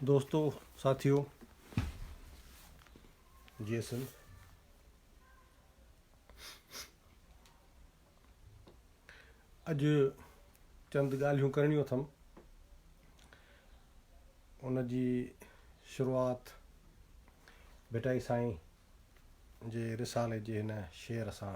دوستو ساٿيو جي ايس ايل اڄ چند ڳالهيون ڪرڻيون اٿم ان جي شروعات ڀٽائي سائين جي رسالي جي هن شعر سان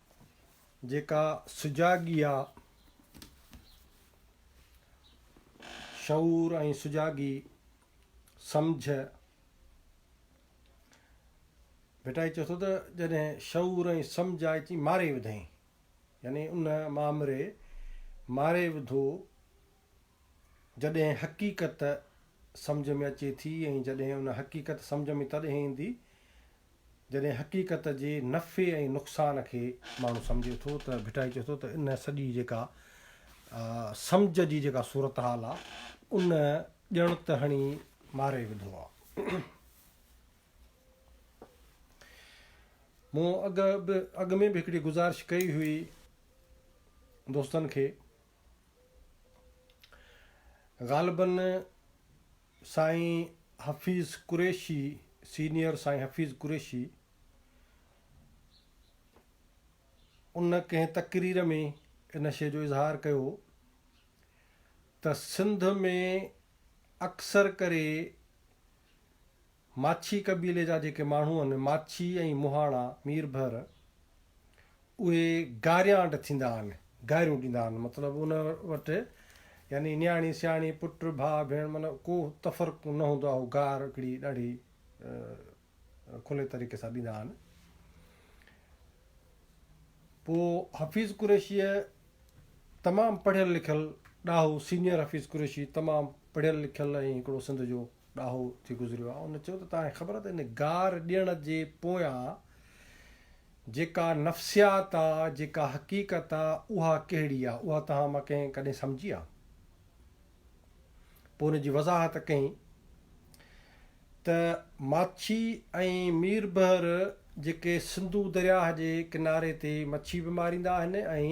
جيڪا سجاڳيء، شعور ۽ سجاڳي، سمجهه، ڀٽائي چئي ٿو ته جڏهن شعور ۽ سمجهه آئي چي ماري وڌئين يعني ان مامري ماري وڌو، جڏهن حقيقت سمجهه ۾ اچي ٿي ۽ جڏهن ان حقيقت سمجهه ۾ تڏهن ايندي جڏهن حقيقت جي نفعي ۽ نقصان کي ماڻهو سمجهي ٿو ته ڀٽائي چئي ٿو ته ان سڄي جيڪا سمجهه جي جيڪا صورتحال آ ان ڄڻ ته هڻي ماري وڌو آ مون اڳ اڳ ۾ به هڪڙي گزارش ڪئي هئي دوستن کي غالبن سائين حفيظ قريشي سينيئر سائين حفيظ قريشي ان ڪنهن تقرير ۾ ان شيء جو اظهار ڪيو ته سنڌ ۾ اڪثر ڪري ماڇي قبيلي جا جيڪي ماڻهو آهن، ماڇي ۽ مهاڻا، مير ڀر، اهي گاريانڊ ٿيندا آهن، گاريون ڏيندا آهن، مطلب ان وٽ يعني نياڻي سياڻي، پٽ، ڀاء، ڀيڻ معنيٰ ڪو تفرق نه هوندو آهي، هو گار هڪڙي ڏاڍي کلي طريقي سان ڏيندا آهن. پوء حفيظ قريشيء تمام پڙهيل لکيل ڏاهو سينيئر حفيظ قريشي تمام پڙهيل لکيل ۽ هڪڙو سنڌ جو ڏاهو ٿي گذريو آهي ان چيو ته توهان کي خبر آهي ته ان گار ڏيڻ جي پويان جيڪا نفسيات آهي جيڪا حقيقت آهي اها ڪهڙي آهي اها توهان مان ڪنهن ڪڏهن سمجهي آهي پوء ان جي وضاحت ڪئين ته ماڇي ۽ ميربحر جيڪي سنڌو درياهه جي ڪناري تي مڇي به ماريندا آهن ۽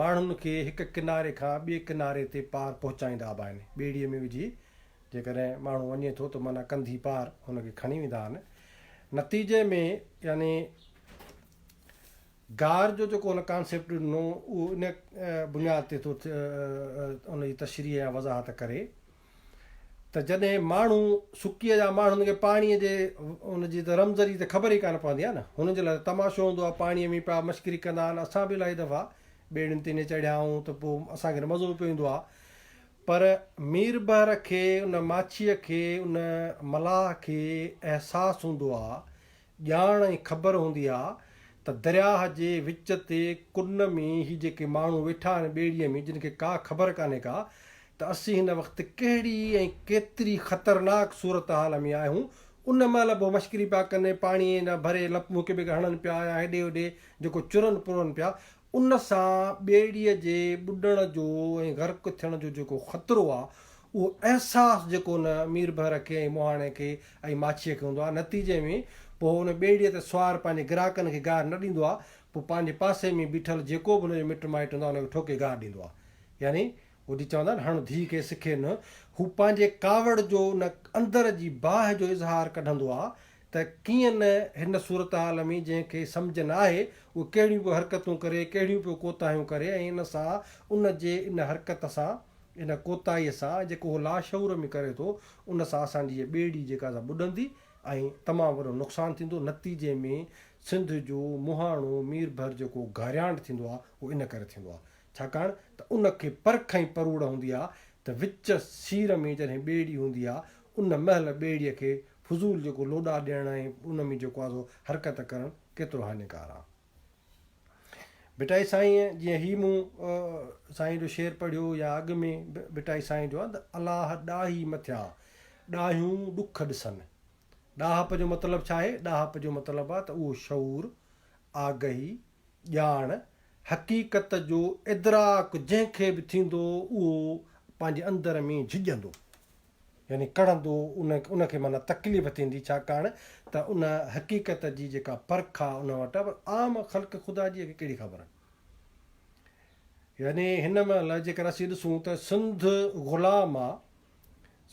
ماڻهن کي هڪ ڪناري کان ٻئي ڪناري تي پار پهچائيندا به آهن ٻيڙيء ۾ وجهي جيڪڏهن ماڻهو وڃي ٿو ته معنيٰ ڪنڌي پار هن کي کڻي ويندا آهن. نتيجي ۾ يعني گار جو جيڪو هن ڪانسيپٽ ڏنو اهو ان بنياد تي ٿو ان جي تشريح يا وضاحت ڪري ته جڏهن ماڻهو سڪيء جا ماڻهو هن کي پاڻيء جي ان جي ته رمز جي ته خبر ئي ڪانه پوندي آهي نه هنن جي لاء ته تماشو هوندو آهي پاڻيء ۾ پيا مشڪري ڪندا آهن اسان به الاهي دفعا ٻيڙين تي ائين چڙهيا آهيون ته پوء اسان کي ته مزو به پيو ايندو آهي پر مير بحر کي ان ماڇيء کي ان ملاح کي احساس هوندو ها، ڄاڻ ۽ خبر هوندي ها ته درياهه جي وچ تي ڪن ۾ هي جيڪي ماڻهو ويٺا آهن ٻيڙيء ۾ جن کي ڪا خبر ڪانهي ڪا ته اسين هن وقت ڪهڙي ۽ ڪيتري خطرناڪ صورتحال ۾ آهيون ان مهل به هو مشڪري پيا ڪن پاڻيء جا ڀري لپون هڪ ٻئي کي هڻن پيا يا هيڏي هوڏي جيڪو چرن پرن پيا ان سان ٻيڙيء جي ٻڏڻ جو ۽ غرق ٿيڻ جو جيڪو خطرو آهي، اهو احساس جيڪو ان مير بحر کي ۽ مهاڻي کي ۽ ماڇيء کي هوندو آهي، نتيجي ۾ پوء ان ٻيڙيء تي سوار پنهنجي گراهڪن کي گاهه نه ڏيندو آهي، پوء پنهنجي پاسي ۾ بيٺل جيڪو به ان جو مٽ مائٽ هوندو آهي، ان کي ٺوڪي گاهه ڏيندو آهي. يعني هو جيئن چوندا آهن، هڻ ڌيء کي سکي نه، هو پنهنجي ڪاوڙ جو ان اندر جي باهه جو اظهار ڪڍندو آهي، ته ڪيئن نه هن صورتحال ۾ جنهن کي سمجهه نه آهي اهو ڪهڙيون پيو حرڪتون ڪري، ڪهڙيون پيو ڪوتاهيون ڪري ۽ ان سان ان جي ان حرڪت سان، ان ڪوتاهيء سان جيڪو اهو لاشعور ۾ ڪري ٿو ان سان اسان جي هيء ٻيڙي جيڪا سا ٻڏندي ۽ تمام وڏو نقصان ٿيندو، نتيجي ۾ سنڌ جو مهاڻو مير ڀر جيڪو گهاريانڊ ٿيندو آهي اهو ان ڪري ٿيندو آهي ڇاڪاڻ ته ان کي پرک ۽ پروڙ هوندي آهي ته وچ سير ۾ جڏهن ٻيڙي هوندي آهي ان مهل ٻيڙيء کي فضول جيڪو لوڏا ڏيڻ ۽ ان ۾ جيڪو آسو حرڪت ڪرڻ ڪيترو هاڃيڪار آ. ڀٽائي سائينء جيئن هي مون سائينء جو شعر پڙهيو يا اڳ ۾ ڀٽائي سائينء جو آ ته الاهه ڏاهي مٿيان ڏاهيون ڏک ڏسن. ڏاهپ جو مطلب ڇا آهي؟ ڏاهپ جو مطلب آ ته اهو شعور، آگهي، ڄاڻ، حقيقت جو ادراڪ جنهن کي به ٿيندو اهو پنهنجي اندر ۾ جهڄندو. يعني ڪڙهندو ان ان کي معنيٰ تڪليف ٿيندي ڇاڪاڻ ته ان حقيقت جي جيڪا پرک آ ان وٽ پر عام خلق خدا جيء کي ڪهڙي خبر. يعني هن مهل جيڪر اسين ڏسون ته سنڌ غلام آ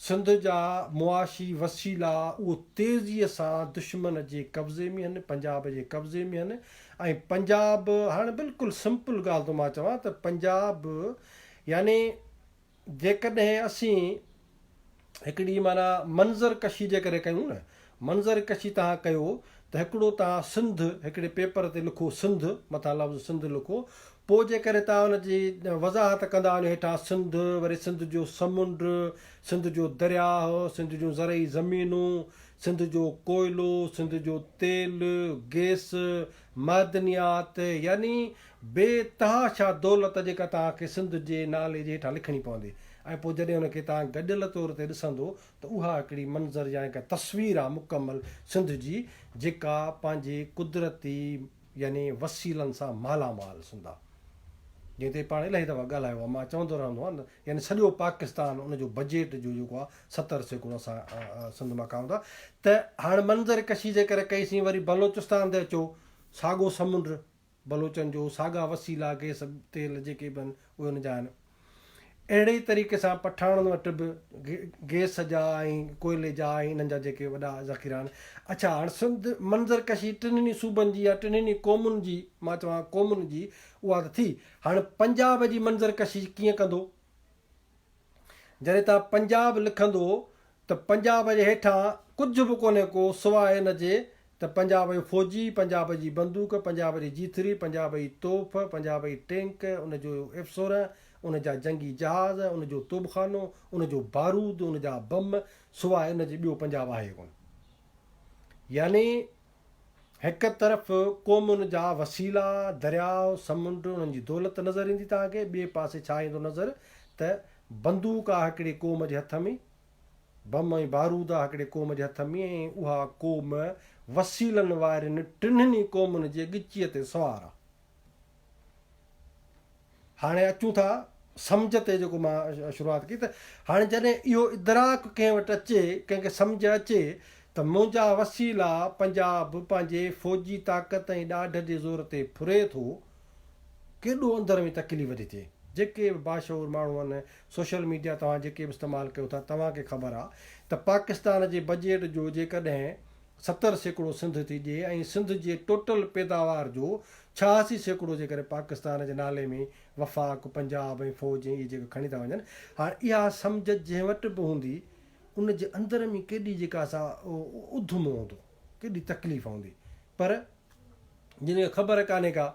سنڌ جا معاشي وسيلا اهو تيزيء سان دشمن جي قبضي ۾ هن پنجاب جي قبضي ۾ هن ۽ پنجاب هاڻ بلڪل سمپل ڳالهه ٿو مان چوان ته پنجاب يعني جيڪڏهن اسين هڪڙي معنيٰ منظر ڪشي جي ڪري ڪيون نه، منظر ڪشي توهان ڪيو ته هڪڙو توهان سنڌ هڪڙي پيپر تي لکو سنڌ مٿان لفظ سنڌ لکو پوء جيڪڏهن توهان ان جي وضاحت ڪندا وڃو هيٺان سنڌ وري سنڌ جو سمنڊ سنڌ جو درياهه سنڌ جون زرعي زمينون سنڌ جو ڪوئلو سنڌ جو تيل گيس معدنيات يعني بي تها شاهه دولت جيڪا توهان کي سنڌ جي نالي جي هيٺان لکڻي پوندي ۽ پوء جڏهن ان کي توهان گڏيل طور تي ڏسندو ته اها هڪڙي منظر يا هڪ تصوير آهي مڪمل سنڌ جي جيڪا پنهنجي قدرتي يعني وسيلن سان مالا مال سنڌ آهي جنهن تي پاڻ الاهي دفعا ڳالهايو آهي مان چوندو رهندو آهيان يعني سڄو پاڪستان ان جو بجيٽ جو جيڪو آهي ستر سيڪڙو اسان سنڌ مان کائون ٿا ته هاڻ منظر ڪشي جيڪر ڪئي سين وري بلوچستان تي اچو ساڳو سمنڊ بلوچن جو ساڳا وسيلا گيس تيل جيڪي به آهن اهي ان جا آهن اهڙي ئي طريقي سان پٺاڻن وٽ به گيس جا ۽ ڪوئلي جا ۽ انهن جا جيڪي وڏا ذخيرا آهن اڇا هاڻ سنڌ منظر ڪشي ٽنهن ئي صوبن جي يا ٽنهن ئي قومن جي مان چوان قومن جي اها ته ٿي هاڻ پنجاب جي منظر ڪشي ڪيئن ڪندو جڏهن تان پنجاب لکندو ته پنجاب جي هيٺان ڪجهه به ڪونهي ڪو سواء ان جي ته پنجاب جو فوجي، پنجاب جي بندوق، پنجاب جي جيٿري، پنجاب جي توف، پنجاب جي ٽينڪ، ان جو ايف سورهن، ان جا جنگي جهاز، ان جو توبخانو، ان جو بارود، ان جا بم سواء ان جي ٻيو پنجاب آهي ڪونه. يعني. هڪ طرف قومن جا وسيلا، درياء، سمنڊ، انهن جي دولت نظر ايندي توهان کي، ٻئي پاسي ڇا ايندو نظر ته بندوق آ هڪڙي قوم جي هٿ ۾، بم ۽ بارود آ هڪڙي قوم جي هٿ ۾، ۽ اها قوم وسيلن وارين ٽنهن ئي قومن جي ڳچيء تي سوار آ. هاڻي اچون ٿا سمجهه تي جيڪو مان شروعات ڪئي ته هاڻي جڏهن اهو ادراڪ ڪنهن وٽ اچي ڪنهن کي سمجهه اچي ته منهنجا وسيلا پنجاب پنهنجي فوجي طاقت ۽ ڏاڍ جي زور تي ڦري ٿو ڪيڏو اندر ۾ تڪليف ٿي ٿئي جيڪي به باشعور ماڻهو آهن سوشل ميڊيا توهان جيڪي به استعمال ڪيو ٿا توهان کي خبر آهي ته پاڪستان جي بجيٽ جو جيڪڏهن ستر سيڪڙو سنڌ ٿي ڏئي ۽ سنڌ جي ٽوٽل پيداوار جو ڇهاسي سيڪڙو جيڪڏهن پاڪستان جي نالي ۾ وفاق، پنجاب ۽ فوج ۽ اهي جيڪي کڻي ٿا وڃن. هاڻ اها سمجهه جنهن وٽ به هوندي ان جي اندر ۾ ڪيڏي جيڪا سا اڌمو هوندو، ڪيڏي تڪليف هوندي پر جن کي خبر ڪانهي ڪا.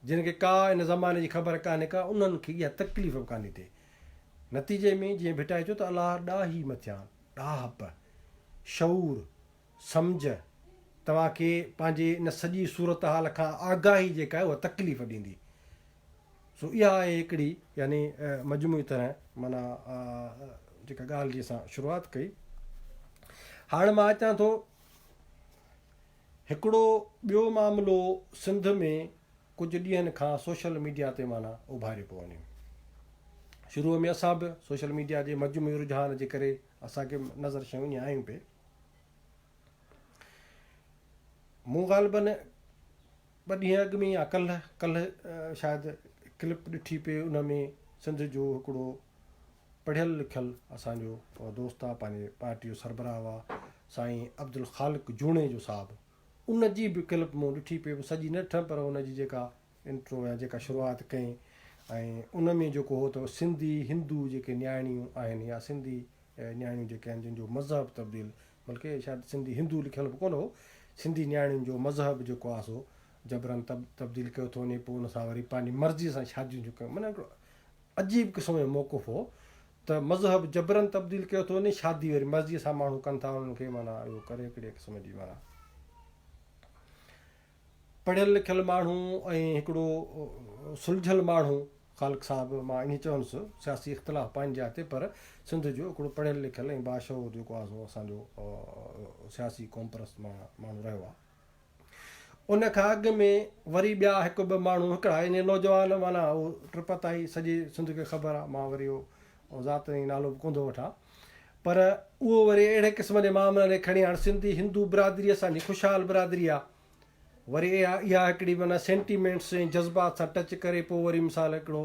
جن کي ڪا ان زماني جي خبر ڪانهي ڪا انهن کي اها تڪليف به ڪانهي ٿي. نتيجي ۾ جيئن ڀٽائي چيو ته الله ڏاهي مٿيان ڏاهپ، شعور، سمجهه توهان کي پنهنجي ان سڄي صورتحال کان آگاهي جيڪا آهي اها تڪليف ڏيندي. سو اها آهي هڪڙي. يعني مجموعي طرح معنيٰ جيڪا ڳالهه جي اسان شروعات ڪئي. هاڻ مان اچان ٿو. هڪڙو ٻيو معاملو سنڌ ۾ ڪجهه ڏينهن کان سوشل ميڊيا تي معنيٰ اڀاري پيو وڃي. شروع ۾ اسان به سوشل ميڊيا جي مجموعي رجحان جي ڪري اسان کي به نظر شيون ائين آيون پي. مون غالباً ٻه ڏينهن اڳ ۾ يا ڪلهه ڪلهه شايد ڪلپ ڏٺي پي ان ۾ سنڌ جو هڪڙو پڙهيل لکيل اسان جو دوست آ پنهنجي پارٽي جو سربراهه هئا سائين عبدالخالق جوڻيجو صاحب ان جي به ڪلپ مون ڏٺي پئي سڄي نه ڏٺم پر ان جي جيڪا انٽرو يا جيڪا شروعات ڪئين ۽ ان ۾ جيڪو هو ته سنڌي هندو جيڪي نياڻيون آهن يا سنڌي نياڻيون جيڪي آهن جن جو مذهب تبديل بلڪه شايد سنڌي هندو لکيل به ڪونه هو سنڌي نياڻيون جو مذهب جيڪو آ سو جبرن تبديل ڪيو ٿو وڃي پوء ان سان وري پنهنجي مرضي سان شاديون ٿيون ڪن معنيٰ عجيب قسم جو موقف هو ته مذهب جبرن تبديل ڪيو ٿو وڃي شادي وري مرضي سان ماڻهو ڪن ٿا انهن کي معنيٰ اهو ڪري هڪڙي قسم جي معنيٰ پڙهيل لکيل ماڻهو ۽ هڪڙو سلجهيل ماڻهو خالق صاحب مان انهي چوندس سياسي اختلاف پنهنجي جاء تي پر سنڌ جو هڪڙو پڙهيل لکيل ۽ باشعور جيڪو آزو اسان جو سياسي قومپرست ماڻهو رهيو آهي ان کان اڳ ۾ وري ٻيا هڪ ٻه ماڻهو هڪڙا يعني نوجوان معنيٰ هو ٽپتائي سڄي سنڌ کي خبر آ مان وري اهو ذات ۽ نالو به ڪونه ٿو وٺان پر اهو وري اهڙي قسم جي معاملن کي کڻي هاڻ سنڌي هندو برادري اسان جي خوشحال برادري آ وري اها اها هڪڙي معنيٰ سينٽيمينٽس ۽ جذبات سان ٽچ ڪري پوء وري مثال هڪڙو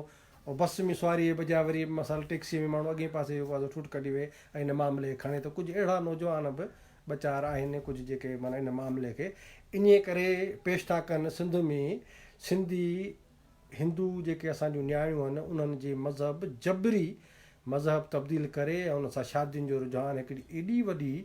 بس ۾ سواري جي بجاء وري مثال ٽيڪسي ۾ ماڻهو اڳئين پاسي جو ٺوٺ ڪڍي ويهي ۽ ان معاملي کي کڻي ته ڪجهه اهڙا نوجوان به ٻه چار آهن ڪجهه جيڪي معنيٰ ان معاملي کي انهيء ڪري پيش ٿا ڪن سنڌ ۾ سنڌي هندو جيڪي اسان جون نياڻيون آهن انهن جي مذهب جبري مذهب تبديل ڪري ۽ انهن سان شادين جو رجحان هڪڙي ايڏي وڏي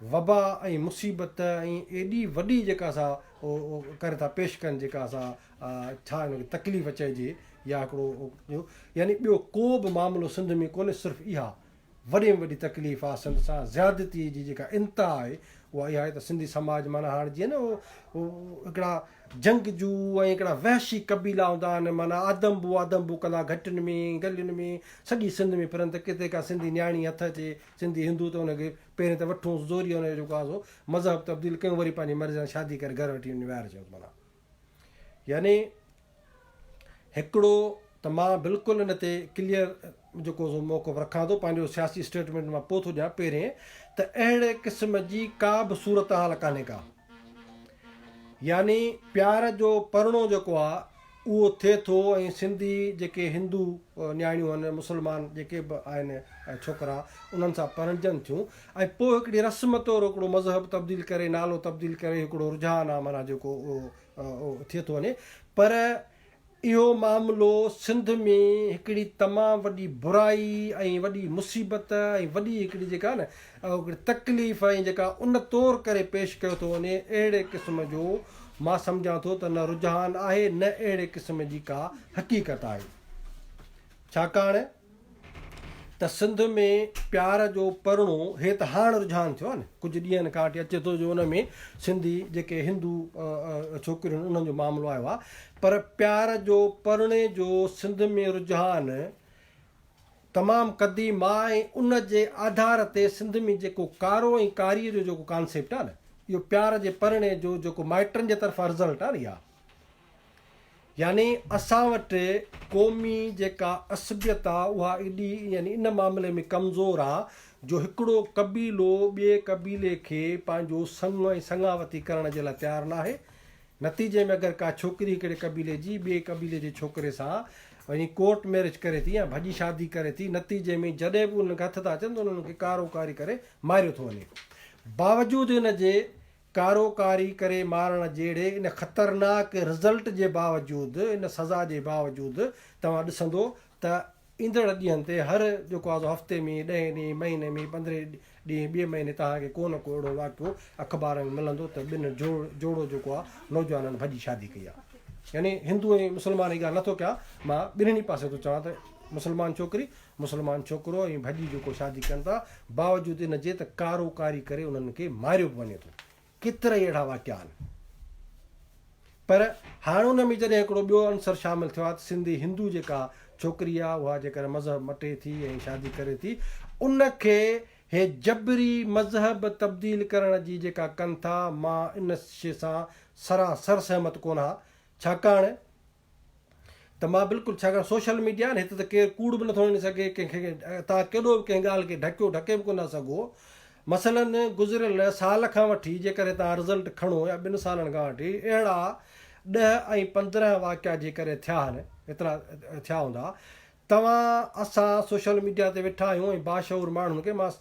وبا ۽ مصيبت ۽ ايڏي وڏي جيڪا اسان ڪري ٿا پيش ڪن جيڪا اسان ڇا ان کي تڪليف چئجي يا هڪڙو يعني ٻيو ڪو به معاملو سنڌ ۾ ڪونهي صرف اها وڏي ۾ وڏي تڪليف آ سنڌ سان زيادتي جي جيڪا انتها آهي اها اها آهي ته سنڌي سماج معنيٰ هاڻ جيئن نه هو هڪڙا جنگجو ۽ هڪڙا وحشي قبيلا هوندا آهن معنيٰ آدمبو آدمبو ڪندا گهٽن ۾ گلين ۾ سڄي سنڌ ۾ ڦرن ته ڪٿي ڪا سنڌي نياڻي هٿ اچي سنڌي هندو ته ان کي پهرين ته وٺونس زوريء ان جو جيڪو آهي سو مذهب تبديل ڪيون وري پنهنجي مرضي سان شادي ڪري گهر وٺي وڃي ويهارجيونس معنيٰ يعني هڪڙو ته مان بلڪل ان تي ڪليئر جيڪو سو موقف رکان ٿو پنهنجو سياسي اسٽيٽمينٽ مان پوء ٿو ڏيان پهرين ته اهڙي قسم جي ڪا به صورتحال ڪانهي ڪا يعني پيار جو پرڻو جيڪو آ اهو ٿئي ٿو ۽ سنڌي جيڪي هندو نياڻيون آهن مسلمان جيڪي به آهن ڇوڪرا انهن سان پرڻجن ٿيون ۽ پوء هڪڙي رسم طور هڪڙو مذهب تبديل ڪري نالو تبديل ڪري هڪڙو رجحان آ معنيٰ جيڪو اهو ٿئي ٿو وڃي پر اهو معاملو سنڌ ۾ هڪڙي تمام وڏي برائي ۽ وڏي مصيبت ۽ وڏي هڪڙي جيڪا نه هڪڙي تڪليف ۽ جيڪا ان طور ڪري پيش ڪيو ٿو وڃي اهڙي قسم جو مان سمجهان ٿو ته نه رجحان آهي نه اهڙي قسم جي ڪا حقيقت آهي ڇاڪاڻ ته سنڌ ۾ پيار جو پرڻو هي ته هاڻ رجحان ٿيو آهي نه ڪجهه ڏينهن کان وٺي اچي ٿو جو ان ۾ سنڌي جيڪي هندو ڇوڪريون آهن انهن جو معاملو آيو آهي پر پيار جو پرڻي جو سنڌ ۾ رجحان تمام قديم آهي ۽ ان جي آڌار تي سنڌ ۾ جيڪو ڪارو ۽ ڪاري جو جيڪو ڪانسيپٽ آهي نه اهو پيار جي پرڻي جو جيڪو مائٽن جي طرفان رزلٽ آهي نه اها يعني اسان وٽ قومي جيڪا عصبيت آ اها ايڏي يعني ان معاملي ۾ ڪمزور آ جو هڪڙو قبيلو ٻئي قبيلي کي پنهنجو سڱ ۽ سڱاوتي ڪرڻ جي لاء تيار ناهي نتيجي ۾ اگر ڪا ڇوڪري هڪڙي قبيلي جي ٻئي قبيلي جي ڇوڪري سان يعني ڪورٽ ميرج ڪري ٿي يا ڀڄي شادي ڪري ٿي نتيجي ۾ جڏهن به انهن کي هٿ ٿا اچن ته انهن کي ڪارو ڪاري ڪري ماريو ٿو وڃي باوجود ان جي ڪارو ڪاري ڪري مارڻ جهڙي ان خطرناڪ رزلٽ جي باوجود ان سزا جي باوجود توهان ڏسندو ته ايندڙ ڏينهن تي هر جيڪو آزو هفتي ۾ ڏهين ڏينهن مهيني ۾ پندرهين ڏينهن ٻئي مهيني توهان کي ڪو نه ڪو اهڙو واقعو اخبارن ۾ ملندو ته ٻن جوڙو جيڪو آ نوجوانن ڀڄي شادي ڪئي آ يعني هندو ۽ مسلمان جي ڳالهه نٿو ڪيان مان ٻنهي پاسي ٿو چوان ته مسلمان ڇوڪري مسلمان ڇوڪرو ائين ڀڄي جوڪو شادي ڪن ٿا باوجود ان جي ته ڪارو ڪاري ڪري انهن کي ماريو به وڃي ٿو ڪيترائي اهڙا واقعا آهن پر هاڻ ان ۾ جڏهن هڪڙو ٻيو عنصر شامل ٿيو آهي ته سنڌي هندو جيڪا ڇوڪري آهي اها جيڪڏهن مذهب مٽي ٿي ۽ شادي ڪري ٿي ان کي هي جبري مذهب تبديل ڪرڻ جي جيڪا ڪن ٿا مان ان شي سان سراسر سهمت ڪونه ها ڇاڪاڻ ته مان بلڪل ڇاڪاڻ سوشل ميڊيا آهي نه هتي ته ڪير ڪوڙ به نٿو هڻي سگهي ڪنهن کي تان ڪيڏو به ڪنهن ڳالهه کي ڍڪيو ڍڪي به ڪونه سگهو مثلا گذريل سال کان وٺي جيڪڏهن تان رزلٽ کڻو يا ٻن سالن کان وٺي اهڙا ڏهه ۽ پندرهن واقعا جيڪڏهن ٿيا آهن ايترا ٿيا هوندا توهان اسان سوشل ميڊيا تي ويٺا آهيون ۽ باشعور ماڻهن کي مان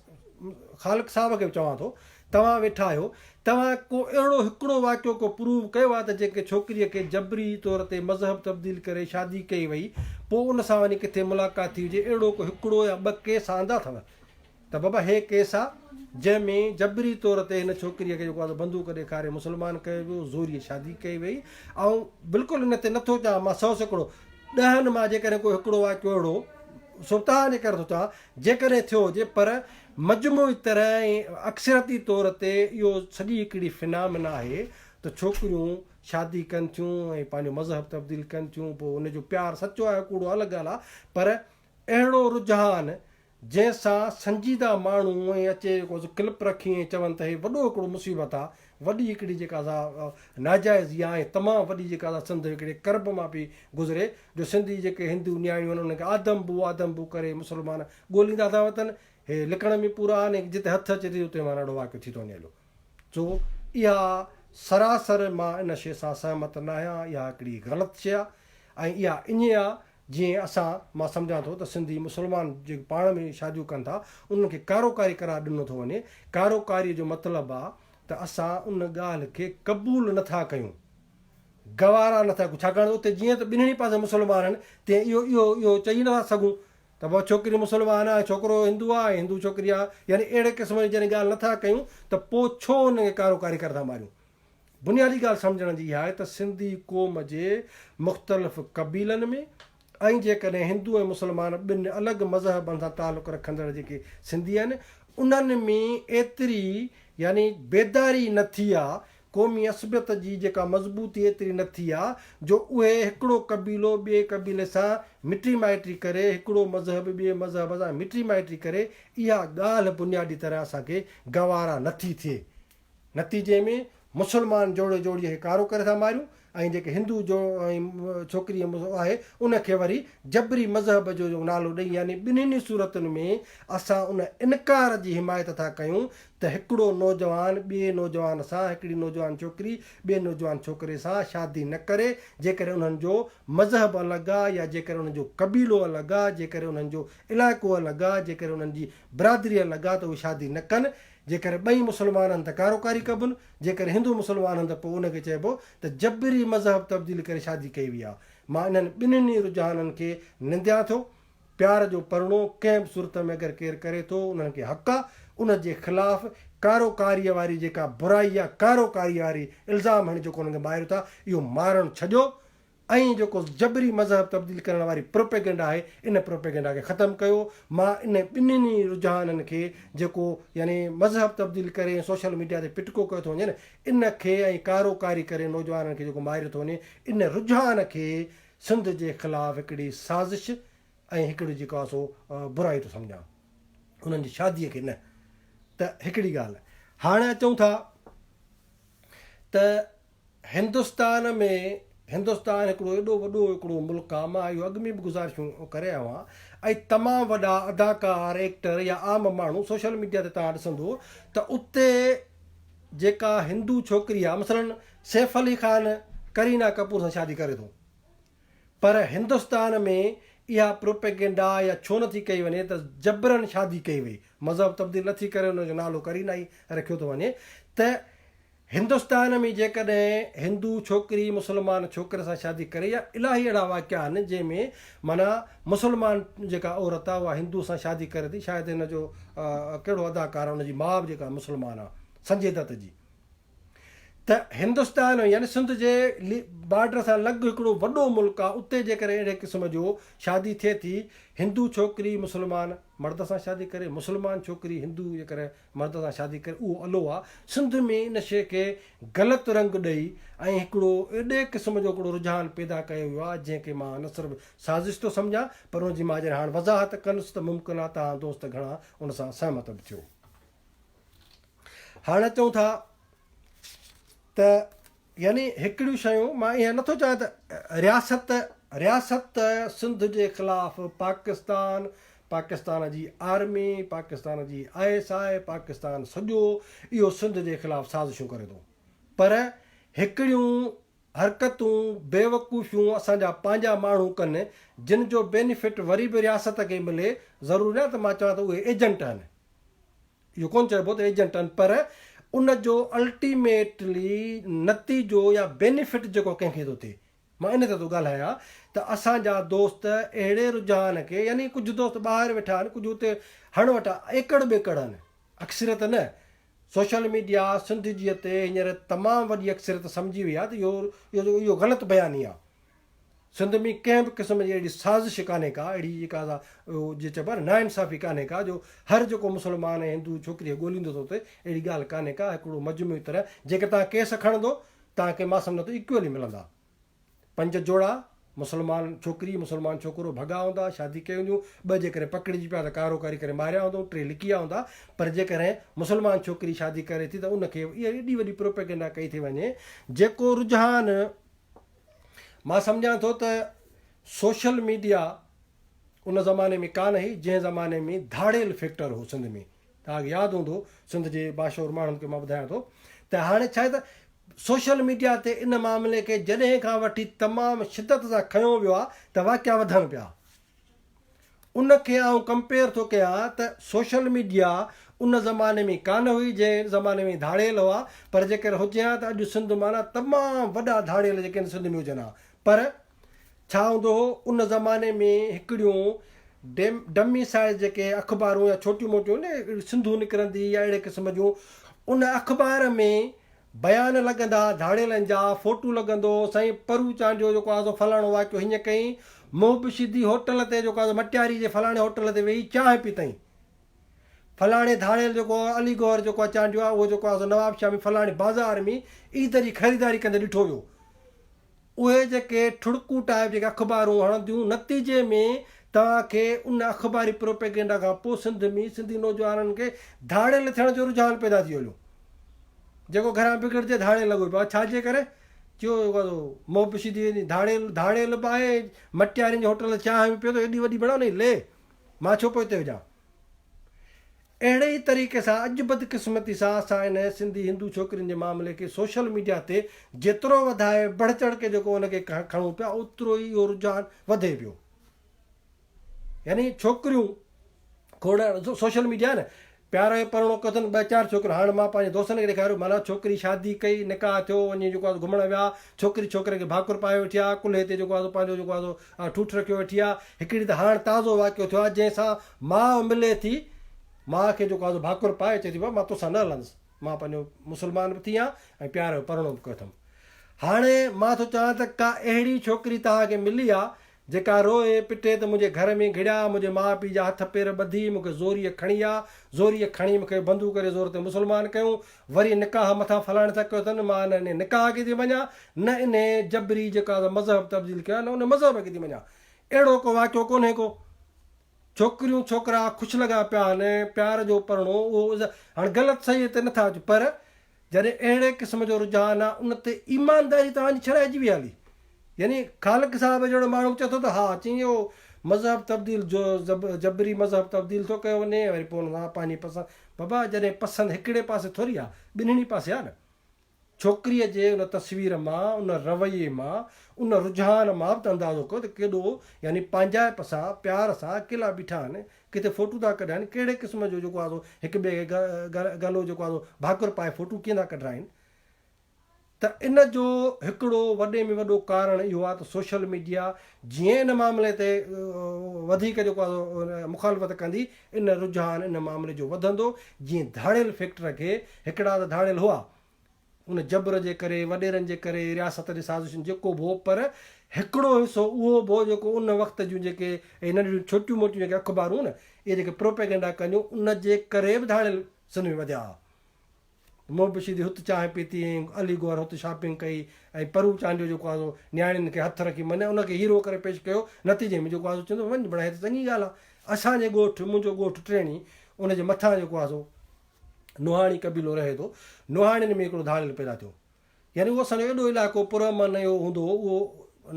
خالق صاحب کي به چوان ٿو توهان ويٺا آهيو توهان ڪو اهڙو هڪڙو واقعو ڪو پروف ڪيو آهي ته جيڪي ڇوڪري کي جبري طور تي مذهب تبديل ڪري شادي ڪئي وئي پوء ان سان وڃي ڪٿي ملاقات ٿي هجي اهڙو ڪو هڪڙو يا ٻه ڪيس آندا اٿو ته بابا هي ڪيس آ جنهن ۾ جبري طور تي هن ڇوڪريء کي جيڪو آ سو بندوق ڏيکاري مسلمان ڪيو ويو زوريء شادي ڪئي وئي آئون بلڪل ان تي نٿو چوان مان سئو سيڪڙو ڏهن مان جيڪڏهن ڪو هڪڙو واقعو اهڙو سبتان جي ڪري ٿو چوان جيڪڏهن ٿيو هجي پر مجموعي طرح ۽ اڪثريتي طور تي اهو سڄي هڪڙي فنامنا آهي ته ڇوڪريون شادي ڪن ٿيون ۽ پنهنجو مذهب تبديل ڪن ٿيون پوء ان جو پيار سچو آهي ڪوڙو الڳ ڳالهه آ پر اهڙو رجحان جنهن سان سنجيده ماڻهو ائين اچي جيڪو ڪلپ رکي ائين چون ته هي وڏو هڪڙو مصيبت آ وڏي هڪڙي جيڪا سا ناجائزي آ ۽ تمام وڏي جيڪا سا سنڌ هڪڙي ڪرب مان پي گذري جو سنڌي جيڪي هندو نياڻيون آهن انهن کي آدم بو آدم بو ڪري مسلمان ڳوليندا ٿا وتن هي لڪڻ ۾ پورا آهن ۽ جتي هٿ اچي ٿي اتي مان اهڙو واقعو ٿي ٿو وڃي هلو سو اها سراسر مان ان شي سان سهمت ناهيان اها هڪڙي غلط شي آ ۽ اها اڃي آ جيئن اسان، مان سمجهان ٿو ته سنڌي مسلمان جيڪي پاڻ ۾ شاديون ڪن ٿا انهن کي ڪاروڪاري قرار ڏنو ٿو وڃي، ڪاروڪاري جو مطلب آ ته اسان ان ڳالهه کي قبول نه ٿا ڪيون، گوارا نه ٿا ڪيون ڇاڪاڻ ته اتي جيئن ته ٻنهي پاسي مسلمان آهن تيئن اهو اهو اهو چئي نه ٿا سگهون ته واهه ڇوڪري مسلمان آ ڇوڪرو هندو آ ۽ هندو ڇوڪري آ يعني اهڙي قسم جي جڏهن ڳالهه نه ٿا ڪيون ته پوء ڇو انهن کي ڪاروڪاري ڪر ٿا ماريون. بنيادي ڳالهه سمجهڻ جي اها آهي ته سنڌي قوم جي مختلف قبيلن ۾ ۽ جيڪڏهن هندو ۽ مسلمان ٻن الڳ مذهبن سان تعلق رکندڙ جيڪي سنڌي آهن انهن ۾ ايتري يعني بيداري نه ٿي آ قومي عصبيت جي جيڪا مضبوطي ايتري نه ٿي آ جو اهي هڪڙو قبيلو ٻئي قبيلي سان مٽي مائٽي ڪري هڪڙو مذهب ٻئي مذهب سان مٽي مائٽي ڪري اها ڳالهه بنيادي طرح اسان کي گوارا نه ٿي ٿئي. نتيجي ۾ مسلمان جوڙي جوڙيء کي ڪارو ڪري ٿا ماريون ۽ جيڪي هندو جو ۽ ڇوڪري آهي ان کي وري جبري مذهب جو نالو ڏئي يعني ٻنهين ئي صورتن ۾ اسان ان انڪار جي حمايت ٿا ڪيون ته هڪڙو نوجوان ٻئي نوجوان سان هڪڙي نوجوان ڇوڪري ٻئي نوجوان ڇوڪري سان شادي نه ڪري جيڪڏهن انهن جو مذهب الڳ آ يا جيڪڏهن انهن جو قبيلو الڳ آ جيڪڏهن انهن جو علائقو الڳ آ جيڪڏهن انهن جي برادري الڳ آ ته اهي شادي نه ڪن جيڪر ٻئي مسلمان هن ته ڪاروڪاري ڪبن، جيڪر هندو مسلمان هن ته پوء ان کي چئبو ته جبري مذهب تبديل ڪري شادي ڪئي وئي آهي. مان انهن ٻنهن ئي رجحانن کي ننديان ٿو. پيار جو پرڻو ڪنهن به صورت ۾ اگر ڪير ڪري ٿو، انهن کي حق آ، ان جي خلاف ڪاروڪاريء واري جيڪا برائي آ، ڪاروڪاريء واري الزام هڻي جيڪو انهن کي ماريو ٿا، اهو مارڻ ڇڏيو ۽ جيڪو جبري مذهب تبديل ڪرڻ واري پروپيگنڊا آهي ان پروپيگنڊا کي ختم ڪيو مان ان ٻنهن ئي رجحانن کي جيڪو يعني مذهب تبديل ڪري ۽ سوشل ميڊيا تي پٽڪو ڪيو ٿو وڃي نه ان کي ۽ ڪارو ڪاري ڪري نوجوانن کي جيڪو ماريو ٿو وڃي ان رجحان کي سنڌ جي خلاف هڪڙي سازش ۽ هڪڙي جيڪو آهي سو برائي ٿو سمجهان انهن جي شادي کي نه ته هڪڙي ڳالهه هاڻي اچون ٿا ته هندستان ۾ هندستان هڪڙو ايڏو وڏو هڪڙو ملڪ آ مان اهو اڳ ۾ به گذارشون ڪري آيو آهيان ۽ تمام وڏا اداڪار ايڪٽر يا عام ماڻهو سوشل ميڊيا تي توهان ڏسندو ته اتي جيڪا هندو ڇوڪري آ مثلا سيف علي خان ڪرينا ڪپور سان شادي ڪري ٿو پر هندستان ۾ اها پروپيگنڊا يا ڇو نه ٿي ڪئي وڃي ته جبرن شادي ڪئي وئي مذهب تبديل نه ٿي ڪري ان جو نالو ڪرينا ئي رکيو ٿو وڃي ته هندستان ۾ جيڪڏهن هندو ڇوڪري مسلمان ڇوڪري سان شادي ڪري يا الاهي اهڙا واقعا آهن جنهن ۾ معنيٰ مسلمان جيڪا عورت آهي اها هندو سان شادي ڪري ٿي شايد هن جو ڪهڙو اداڪار هن جي ماء به جيڪا مسلمان آهي سنجي دت جي ته هندستان ۾ يعني سنڌ جي بارڊر سان لڳ هڪڙو وڏو ملڪ آهي اتي جيڪڏهن اهڙي قسم جو شادي ٿئي ٿي هندو ڇوڪري مسلمان مرد سان شادي ڪري مسلمان ڇوڪري هندو جيڪڏهن مرد سان شادي ڪري اهو الو آ. سنڌ ۾ ان شيء کي غلط رنگ ڏئي ۽ هڪڙو اهڙي قسم جو هڪڙو رجحان پيدا ڪيو ويو آهي جنهن کي مان نه صرف سازش ٿو سمجهان پر ان جي مان جڏهن هاڻ وضاحت ڪندس ته ممڪن آهي توهان دوست گهڻا ان سان سهمت به ٿيو. هاڻ اچون ٿا ته يعني هڪڙيون شيون مان اها نٿو چاهيان ته رياست رياست سنڌ جي خلاف پاڪستان پاڪستان جي آرمي پاڪستان جي آء ايس آء پاڪستان سڄو اهو سنڌ جي خلاف سازشون ڪري ٿو پر هڪڙيون حرڪتون بيوقوفيون اسان جا پنهنجا ماڻهو ڪن جن جو بينيفٽ وري به رياست کي ملي ضروري نه ته مان چوان ته اهي ايجنٽ آهن اهو ڪونه چئبو ته ايجنٽ آهن پر ان جو الٽيميٽلي نتيجو يا بينيفٽ جيڪو ڪنهن کي ٿو ٿئي مان ان تي ٿو ڳالهايان ته اسان جا دوست اهڙي رجحان کي يعني ڪجهه دوست ٻاهر ويٺا آهن ڪجهه اتي هڻ وٽا ايڪڙ ٻيڪڙ آهن اڪثريت نه سوشل ميڊيا سنڌ جي تي هينئر تمام وڏي اڪثريت سمجهي وئي آهي ته اهو اهو غلط بياني آهي سنڌ ۾ ڪنهن به قسم جي اهڙي سازش ڪانهي ڪا، اهڙي جيڪا سا جيئن چئبو آهي نه ناانصافي ڪانهي ڪا جو هر جيڪو مسلمان ۽ هندو ڇوڪري کي ڳوليندو ته اتي اهڙي ڳالهه ڪانهي ڪا هڪڙو مجموعي طرح جيڪر توهان ڪيس کڻندو توهان کي مان سمجهان ٿو ايڪوئلي ملندا پنج جوڙا مسلمان ڇوڪري مسلمان ڇوڪرو ڀڳا هوندا شادي ڪئي هونديون ٻه جيڪر پڪڙجي پيا ته ڪارو ڪاري ڪري ماريا هوندو ٽي لڪيا هوندا پر جيڪر مسلمان ڇوڪري شادي ڪري ٿي ته ان کي اهڙي وڏي پروپيگنڊا ڪئي ٿي وڃي جيڪو رجحان مان سمجهان ٿو ته سوشل ميڊيا ان زماني ۾ ڪانه هئي جنهن زماني ۾ ڌاڙيل فيڪٽر هو سنڌ ۾ توهان کي ياد هوندو سنڌ جي باشعور ماڻهن کي مان ٻڌايان ٿو ته هاڻي ڇا ته سوشل ميڊيا تي ان معاملي کي جڏهن کان وٺي تمام شدت سان کنيو ويو آهي ته واقعا وڌڻ پيا ان کي آئون ڪمپيئر ٿو ڪيان ته سوشل ميڊيا ان زماني ۾ ڪانه هئي جنهن زماني ۾ ڌاڙيل هئا پر جيڪر هجي ها ته اڄ سنڌ مان تمام وڏا ڌاڙيل جيڪي آهن سنڌ ۾ هجن ها پر ڇا هوندو هو ان زماني ۾ هڪڙيون ڊمي سائز جيڪي اخبارون يا ڇوٽيون موٽيون سنڌو نڪرندي يا اهڙي قسم جون ان اخبار ۾ بيان لڳندا ڌاڙيلن جا فوٽو لڳندو سائين پرو چانڊيو جيڪو آ سو فلاڻو واقعو هيئن ڪيئين محب شيدي هوٽل تي جيڪو آ سو مٽياري جي فلاڻي هوٽل تي ويهي چانهه پيتائين فلاڻي ڌاڙيل جيڪو علي گوهر جيڪو آ چانڊيو آ اهو جيڪو آ سو نوابشاهه ۾ فلاڻي بازار ۾ عيد جي خريداري ڪندي ڏٺو ويو اهي جيڪي ٺڙڪون ٽائيپ جيڪي اخبارون هڻنديون نتيجي ۾ توهان کي ان اخباري پروپيگنڊا کان پوء سنڌ ۾ سنڌي نوجوانن کي ڌاڙيل ٿيڻ جو رجحان پيدا ٿي وڃو جيڪو گهران بگڙجي ڌاڙيل لڳو پيو آهي ڇا جي ڪري جو موبشي ٿي ويندي ڌاڙيل ڌاڙيل به آهي مٽيارين جي هوٽل چانهه به پيو ٿو ايڏي وڏي بڻاء نئي لي مان ڇو پوئتي هجان. اهڙي ئي طريقي سان اڄ بدقسمتي سان اسان ان سنڌي هندو ڇوڪرين جي معاملي کي سوشل ميڊيا تي جيترو وڌائي بڙهه چڙهه ڪي جيڪو ان کي کڻون پيا اوترو ئي اهو رجحان وڌي پيو يعني ڇوڪريون کوڙ سوشل ميڊيا نه پيار جو پرڻو ڪيو اٿن ٻه چار ڇوڪريون هاڻي مان پنهنجي دوستن کي ڏيکاريو مانا ڇوڪري شادي ڪئي نڪاح ٿيو وڃي جيڪو آهي گهمڻ ويا ڇوڪري ڇوڪري کي ڀاڪر پائي ويٺي آ ڪلهي تي جيڪو آهي سو پنهنجو جيڪو آهي سو آء ٺوٺ رکيو ويٺي آ. هڪڙي ته هاڻ تازو واقعو ٿيو آ جنهن سان ماء ملي ٿي ماء کي جيڪو آزو ڀاڪر پائي چئي ٿي بابا مان توسان نه هلندس مان پنهنجو مسلمان به ٿي آ ۽ پيار جو پرڻو به ڪيو اٿم هاڻي مان ٿو چاهيان ته ڪا اهڙي ڇوڪري توهان کي ملي آ جيڪا روئي پٽي ته منهنجي گهر ۾ گهڙيا منهنجي ماء پيء جا هٿ پير ٻڌي مون کي زوريء کڻي آ زوريء کڻي مون کي بندو ڪري زور تي مسلمان ڪيون وري نڪاح مٿان فلاڻي سان ڪيو اٿن، مان نه انهيء نڪاح کي ٿي مڃان، نه انهيء جبري جيڪو آء مذهب تبديل ڪيو آهي، نه انهيء مذهب کي ٿي مڃان. اهڙو ڪو واقعو ڪونهي ڪو. ڇوڪريون ڇوڪرا خوش لڳا پيا آهن، پيار جو پرڻو اهو اظهار، هاڻ غلط صحيح تي نه ٿا اچون، پر جڏهن اهڙي قسم جو رجحان آهي، ان تي ايمانداري توهان جي ڇڏائجي ويئي هلي. يعني خالق صاحب جهڙو ماڻهو چئي ٿو ته ها چئين اهو مذهب تبديل جو جبري مذهب تبديل ٿو ڪيو وڃي وري پوء ان سان پنهنجي پسند بابا جڏهن پسند هڪڙي پاسي ٿوري آ ٻنهڻي پاسي آ نه ڇوڪري جي ان تصوير مان ان رويي مان ان رجحان مان به ته اندازو ڪيو ته ڪيڏو يعني پنهنجائپ سان پيار سان اڪيلا بيٺا آهن ڪٿي فوٽو ٿا ڪڍائين ڪهڙي قسم جو جيڪو آ سو هڪ ٻئي کي گلو جيڪو آ سو ڀاڪر پائي فوٽو ڪيئن ٿا ڪڍرائين ته ان جو هڪڙو وڏي ۾ وڏو ڪارڻ اهو آهي ته سوشل ميڊيا جيئن ان معاملي تي وڌيڪ جيڪو آهي مخالفت ڪندي ان رجحان ان معاملي جو وڌندو جيئن ڌاڙيل فيڪٽر کي هڪڙا ته ڌاڙيل هئا ان جبر جي ڪري وڏيرن جي ڪري رياست جي سازشن جيڪو به هو پر هڪڙو حصو اهو به هو جيڪو ان وقت جون جيڪي اهي ننڍڙيون ڇوٽيون موٽيون جيڪي اخبارون نه اهي جيڪي پروپيگنڊا ڪنديون ان جي ڪري به ڌاڙيل سنڌ ۾ وڌيا هئا. منهن پوشيدي هت چانهه پيتي ۽ علي گوهر هت شاپنگ ڪئي ۽ پرو چانڊيو جيڪو آهي سو نياڻين کي هٿ رکي مني ان کي هيرو ڪري پيش ڪيو نتيجي ۾ جيڪو آهي سو چوندو وڃ بڙا هي ته چڱي ڳالهه آهي اسان جي ڳوٺ منهنجو ڳوٺ ٽيڻي ان جي مٿان جيڪو آهي سو نوحاڻي قبيلو رهي ٿو نوحاڻين ۾ هڪڙو ڌاڙيل پيدا ٿيو يعني اهو اسان جو ايڏو علائقو پر امن اهو هوندو هو اهو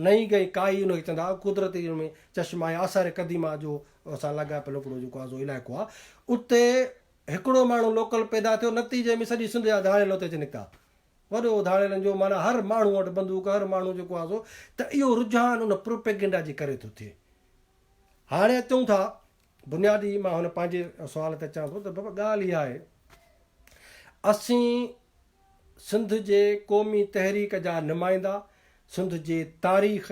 نئين گئي ڪائي ان کي چوندا هئا قدرتي ان ۾ چشما آهي آثار قديمه جو اسان لاڳاپيل هڪڙو جيڪو آهي سو علائقو آهي اتي هڪڙو ماڻهو لوڪل پيدا ٿيو، نتيجي ۾ سڄي سنڌ جا ڌاڙيل اتي اچي نڪتا. وڏو ڌاڙيلن جو معنيٰ هر ماڻهو وٽ بندوق، هر ماڻهو جيڪو آسو ته اهو رجحان ان پروپيگنڊا جي ڪري ٿو ٿئي. هاڻي اچون ٿا بنيادي مان هن پنهنجي سوال تي اچان ٿو ته بابا ڳالهه اها آهي اسين سنڌ جي قومي تحريڪ جا نمائندا سنڌ جي تاريخ،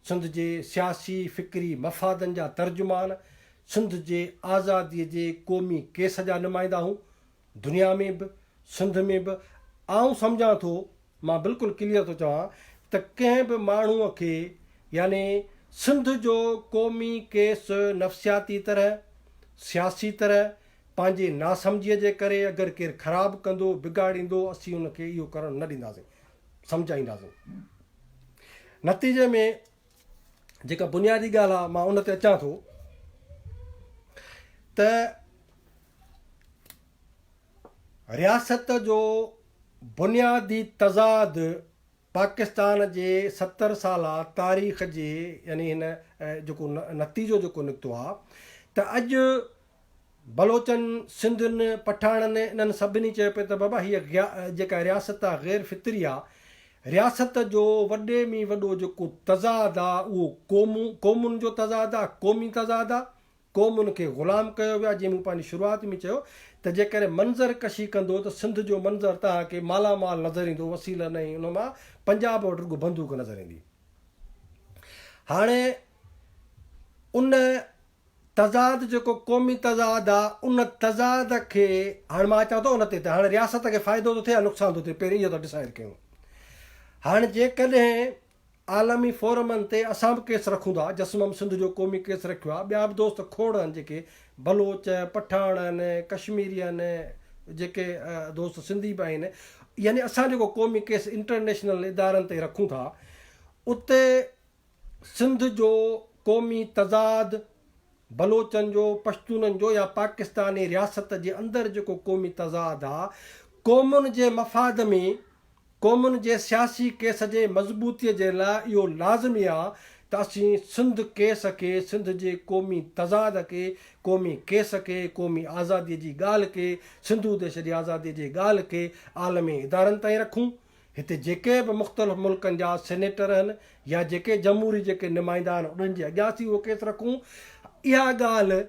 سنڌ جي سياسي فڪري مفادن جا ترجمان، سنڌ جي آزادي جي قومي ڪيس جا نمائندا هون، دنيا ۾ به، سنڌ ۾ به، آئون سمجهان ٿو، مان بلڪل ڪليئر ٿو چوان ته ڪنهن به ماڻهوء کي يعني سنڌ جو قومي ڪيس نفسياتي طرح، سياسي طرح، پنهنجي ناسمجهيء جي ڪري اگر ڪير خراب ڪندو، بگاڙيندو، اسين ان کي اهو ڪرڻ نه ڏينداسين، سمجهائينداسين. نتيجي ۾ جيڪا بنيادي ڳالهه آهي مان ان تي اچان ٿو ته رياست جو بنيادي تضاد پاڪستان جي ستر سالا تاريخ جي يعني هن جيڪو نتيجو جيڪو نڪتو آهي ته اڄ بلوچن، سنڌين، پٺاڻن انهن سڀني چيو پيو ته بابا هيء جيڪا رياست آ غير فطري آ، رياست جو وڏي ۾ وڏو جيڪو تضاد آ اهو قومون، قومن جو تضاد آ، قومي تضاد آ، قومن کي غلام ڪيو ويو آ، جيئن مون پنهنجي شروعات ۾ چيو ته جيڪڏهن منظر ڪشي ڪندو ته سنڌ جو منظر توهان کي مالا مال نظر ايندو وسيله نه ۽ ان مان پنجاب وٽ رڳو بندوق نظر ايندي هاڻي ان تضاد جيڪو قومي تضاد آ ان تضاد کي هاڻ مان اچان ٿو ان تي ته هاڻ رياست کي فائدو ٿو ٿئي يا نقصان ٿو ٿئي پهرين اهو ته ڊسائيڊ ڪيون هاڻ جيڪڏهن عالمي فورمن تي اسان به ڪيس رکون ٿا جسمم سنڌ جو قومي ڪيس رکيو آ ٻيا به دوست کوڙ آهن جيڪي بلوچ پٺاڻ آهن ڪشميري آهن جيڪي دوست سنڌي به آهن يعني اسان جيڪو قومي ڪيس انٽرنيشنل ادارن تي رکون ٿا اتي سنڌ جو قومي تضاد، بلوچن جو، پشتونن جو يا پاڪستاني رياست جي اندر جيڪو قومي تضاد آ، قومن جي مفاد ۾ قومن جي سياسي ڪيس جي مضبوطي جي لاء اهو لازمي آ ته اسين سنڌ ڪيس کي، سنڌ جي قومي تضاد کي، قومي ڪيس کي، قومي آزادي جي ڳالهه کي، سنڌو ديش جي آزادي جي ڳالهه کي عالمي ادارن تائين رکون. هتي جيڪي به مختلف ملڪن جا سينيٽر هن يا جيڪي جمهوري جيڪي نمائندا هن انهن جي اڳيان اسين اهو ڪيس رکون اها ڳالهه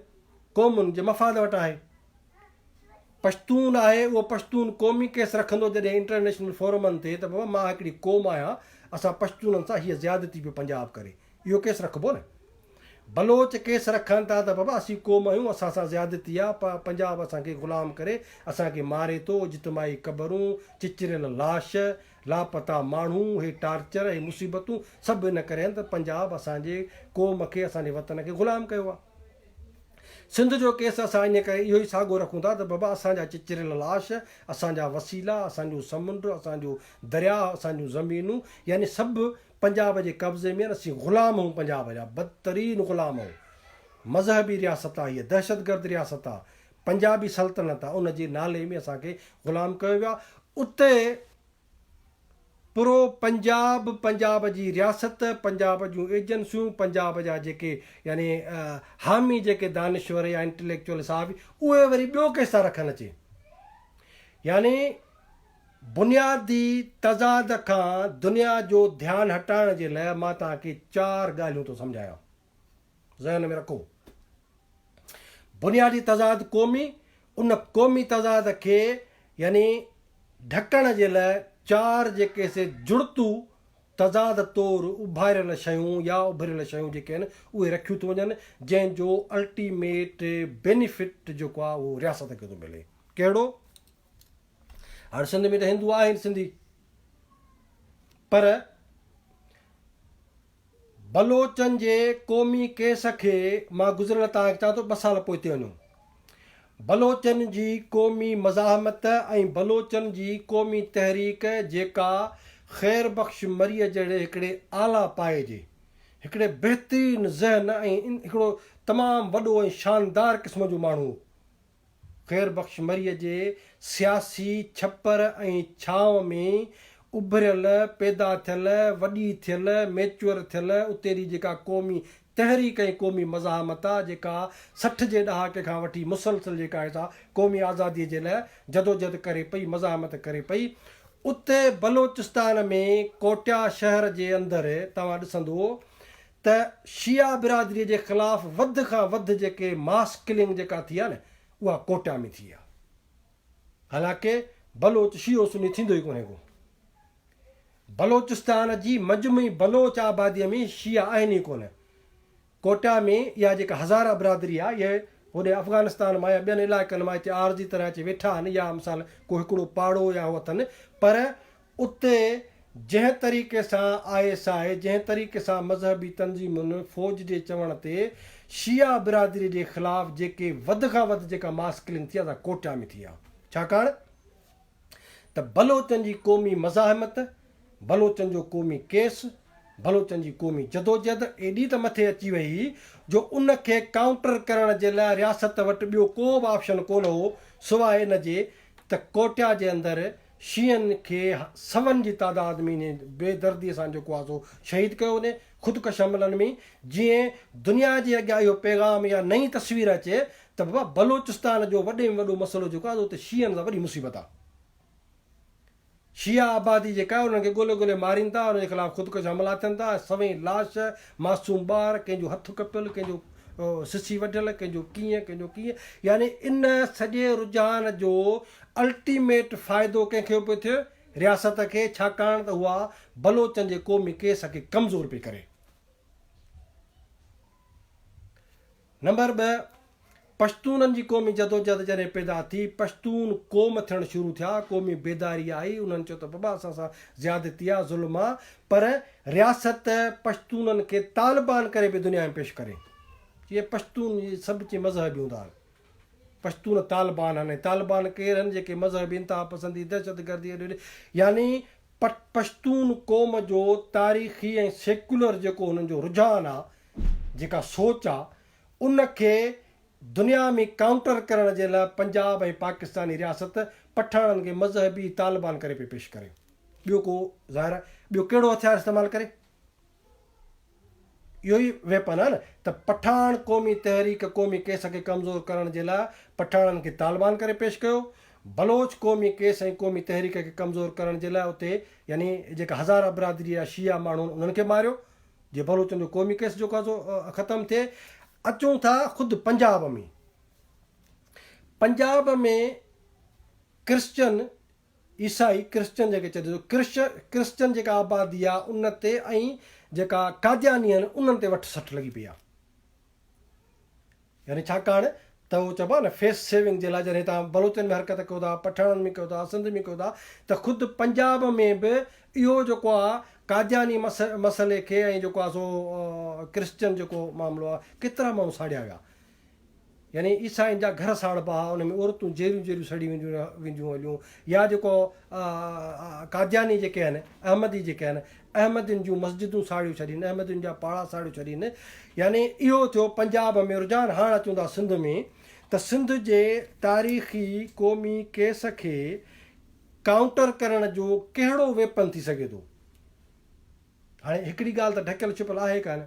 قومن جي مفاد وٽ آهي پشتون آهي اهو پشتون قومي ڪيس رکندو جڏهن انٽرنيشنل فورمن تي ته بابا مان هڪڙي قوم آهيان اسان پشتونن سان هيء زيادتي پيو پنجاب ڪري اهو ڪيس رکبو نه بلوچ ڪيس رکن ٿا ته بابا اسين قوم آهيون اسان سان زيادتي آ پ پنجاب اسان کي غلام ڪري اسان کي ماري ٿو اجتماعي قبرون چچريل لاش لاپتا ماڻهو هي ٽارچر هي مصيبتون سڀ ان ڪري آهن ته پنجاب اسان جي قوم کي اسان جي وطن کي غلام ڪيو آ سنڌ جو ڪيس اسان ان ڪري اهو ئي ساڳو رکون ٿا ته بابا اسان جا چچريل لاش اسان جا وسيلا اسان جو سمنڊ اسان جو درياهه اسان جون زمينون يعني سڀ پنجاب جي قبضي ۾ اسين غلام اهون پنجاب جا بدترين غلام اهون مذهبي رياست آ هيء دهشت گرد رياست آ پنجابي سلطنت آ ان جي نالي ۾ اسان کي غلام ڪيو ويو آ اتي پرو پنجاب پنجاب جي رياست پنجاب جون ايجنسيون پنجاب جا جيڪي يعني حامي جيڪي دانشور يا انٽليڪچوئل صحافي اهي وري ٻيو ڪيس ٿا رکن اچي يعني بنيادي تضاد کان دنيا جو ڌيان هٽائڻ جي لاء مان توهان کي چار ڳالهيون ٿو سمجهايان. ذهن ۾ رکو. بنيادي تضاد قومي، ان قومي تضاد کي يعني ڍڪڻ جي لاء چار جيڪي سي جڙتو تضاد طور اڀاريل شيون يا اڀريل شيون جيڪي آهن اهي رکيون ٿيون وڃن جنهن جو الٽيميٽ بينيفٽ جيڪو آهي اهو رياست کي ٿو ملي. ڪهڙو؟ هاڻ سنڌ ۾ ته هندو آهن سنڌي پر بلوچن جي قومي ڪيس کي مان گذريل تان چان ٿو ٻه سال پوئتي وڃو بلوچن جي قومي مزاحمت ۽ بلوچن جي قومي تحريڪ جيڪا خير بخش مري جهڙي هڪڙي اعليٰ پايي جي هڪڙي بهترين ذهن ۽ هڪڙو تمام وڏو ۽ شاندار قسم جو ماڻهو خير بخش مريء جي سياسي ڇپر ۽ ڇانو ۾ اڀريل، پيدا ٿيل، وڏي ٿيل، ميچوئر ٿيل اتي ري جيڪا قومي تحريڪ ۽ قومي مزاحمت آ جيڪا سٺ جي ڏهاڪي کان وٺي مسلسل جيڪا هي سا قومي آزادي جي لاء جدوجهد ڪري پئي، مزاحمت ڪري پئي. اتي بلوچستان ۾ ڪوٽيا شهر جي اندر توهان ڏسندو ته شيعا برادري جي خلاف وڌ کان وڌ جيڪي ماس ڪلنگ جيڪا ٿي آهي نه اها ڪوئٽا ۾ ٿي آهي حالانڪه بلوچ شيعو سني ٿيندو ئي ڪونهي ڪو بلوچستان جي مجمعي بلوچ آبادي ۾ شيعا آهن ئي ڪونه ڪوئٽا ۾ اها جيڪا هزاره برادري آهي اهي هوڏي افغانستان مان يا ٻين علائقن مان هتي عارضي طرح اچي ويٺا آهن يا مثال ڪو هڪڙو پاڙو يا هو اٿن پر اتي جنهن طريقي سان آء ايس آء جنهن طريقي سان مذهبي تنظيمن فوج جي چوڻ تي شيعا برادري جي خلاف جيڪي وڌ کان وڌ جيڪا ماس ڪلنگ ٿي آ سا ڪوئٽا ۾ ٿي آ ڇاڪاڻ ته بلوچن جي قومي مزاحمت بلوچن جو قومي ڪيس بلوچن جي قومي جدوجهد ايڏي ته مٿي اچي وئي هئي جو ان کي ڪائونٽر ڪرڻ جي لاء رياست وٽ ٻيو ڪو به آپشن ڪونه هو سواء ان جي ته ڪوئٽا جي اندر شيعن کي سون جي تعداد ۾ انهي بي دردي سان جيڪو آهي سو شهيد ڪيو وڃي، خودڪش حملن ۾ جيئن دنيا جي اڳيان اهو پيغام يا نئين تصوير اچي ته بابا بلوچستان جو وڏي ۾ وڏو مسئلو جيڪو آهي سو اتي شيعن سان وڏي مصيبت آهي. شيعا آبادي جيڪا آهي انهن کي ڳولي ڳولي مارين ٿا، انهن جي خلاف خودڪش حملا ٿين ٿا ۽ سوين لاش معصوم ٻار، ڪنهن جو هٿ ڪپيل، ڪنهن جو سسي وڍيل، ڪنهن جو ڪيئن، ڪنهن جو ڪيئن، يعني ان سڄي رجحان جو الٽيميٽ فائدو ڪنهن کي پيو ٿئي؟ رياست کي، ڇاڪاڻ ته اها بلوچن جي قومي ڪيس کي ڪمزور پئي ڪري. نمبر ٻه، پشتونن جي قومي جدوجهد جڏهن پيدا ٿي، پشتون قوم ٿيڻ شروع ٿيا، قومي بيداري آئي، انهن چيو ته بابا اسان سان زيادتي آ، ظلم آ، پر رياست پشتونن کي طالبان ڪري به دنيا ۾ پيش ڪري، جي پشتون سڀ چي مذهبي هوندا آهن، پشتون طالبان آهن ۽ طالبان ڪير آهن جيڪي مذهبي انتها پسندي، دهشت گردي اڏي اڏي يعني پشتون قوم جو تاريخي ۽ سيڪولر جيڪو انهن جو رجحان آ، جيڪا سوچ آ ان کي دنيا ۾ ڪائونٽر ڪرڻ جي لاء پنجاب ۽ پاڪستاني رياست پٺاڻن کي مذهبي طالبان ڪري پئي پيش ڪري. ٻيو ڪو ظاهر آ ٻيو ڪهڙو هٿيار استعمال ڪري؟ اهو ئي ويپن آ نه ته پٺاڻ قومي تحريڪ قومي ڪيس کي ڪمزور ڪرڻ جي لاء پٺاڻن کي طالبان ڪري پيش ڪيو، بلوچ قومي ڪيس ۽ قومي تحريڪ کي ڪمزور ڪرڻ جي لاء اتي يعني جيڪا هزاره برادري آ شيعا ماڻهو آهن انهن کي ماريو جي بلوچن جو قومي ڪيس جيڪو آهي سو ختم ٿئي. اچون ٿا خود پنجاب ۾، پنجاب ۾ ڪرسچن، عيسائي، ڪرسچن جنهن کي چئجي ٿو، ڪرسچن جيڪا آبادي آهي ان تي ۽ جيڪا قادياني آهن انهن تي وٺ سٽ لڳي پئي آهي. يعني ڇاڪاڻ ته هو چئبو آهي نه فيس سيونگ جي لاء جڏهن تان بلوچن ۾ حرڪت ڪيو ٿا پٺاڻن ۾ ڪيو ٿا سنڌ ۾ ڪيو ٿا ته خود پنجاب ۾ به اهو جيڪو آهي قادياني مسئلي کي ۽ جيڪو آهي سو ڪرسچن جيڪو معاملو آهي ڪيترا ماڻهو ساڙيا ويا يعني عيسائين جا گهر ساڙبا هئا ان ۾ عورتون جيريون جيريون سڙي وينديون وينديون هليون يا جيڪو قادياني جيڪي آهن احمدي جيڪي آهن احمدين جون مسجدون ساڙيون ڇڏين احمدين جا پاڙا ساڙيون ڇڏين يعني اهو ٿيو پنجاب ۾ رجحان هاڻ اچون ٿا سنڌ ۾ ته سنڌ جي تاريخي قومي ڪيس کي ڪائونٽر ڪرڻ جو ڪهڙو ويپن ٿي سگهي ٿو هاڻي هڪڙي ڳالهه ته ڍڪيل ڇپيل آهي ڪانه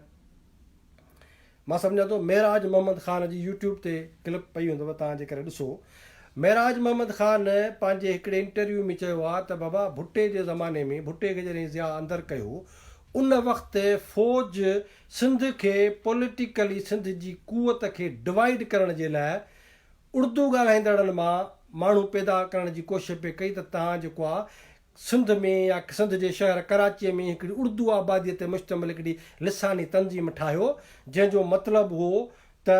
مان سمجهان ٿو معراج محمد خان جي يوٽيوب تي ڪلپ پئي هوندو تان جي ڪري ڏسو معراج محمد خان پنهنجي هڪڙي انٽرويو ۾ چيو آ ته بابا ڀٽي جي زماني ۾ ڀٽي کي جڏهن ضياء اندر ڪيو ان وقت فوج سنڌ کي پوليٽيڪلي سنڌ جي قوت کي ڊوائيڊ ڪرڻ جي لاء اڙدو ڳالهائيندڙن مان ماڻهو پيدا ڪرڻ جي ڪوشش پئي ڪئي ته تان جيڪو آ سنڌ ۾ يا سنڌ جي شهر ڪراچيء ۾ هڪڙي اردو آباديء تي مشتمل هڪڙي لساني تنظيم ٺاهيو، جنهن جو مطلب هو ته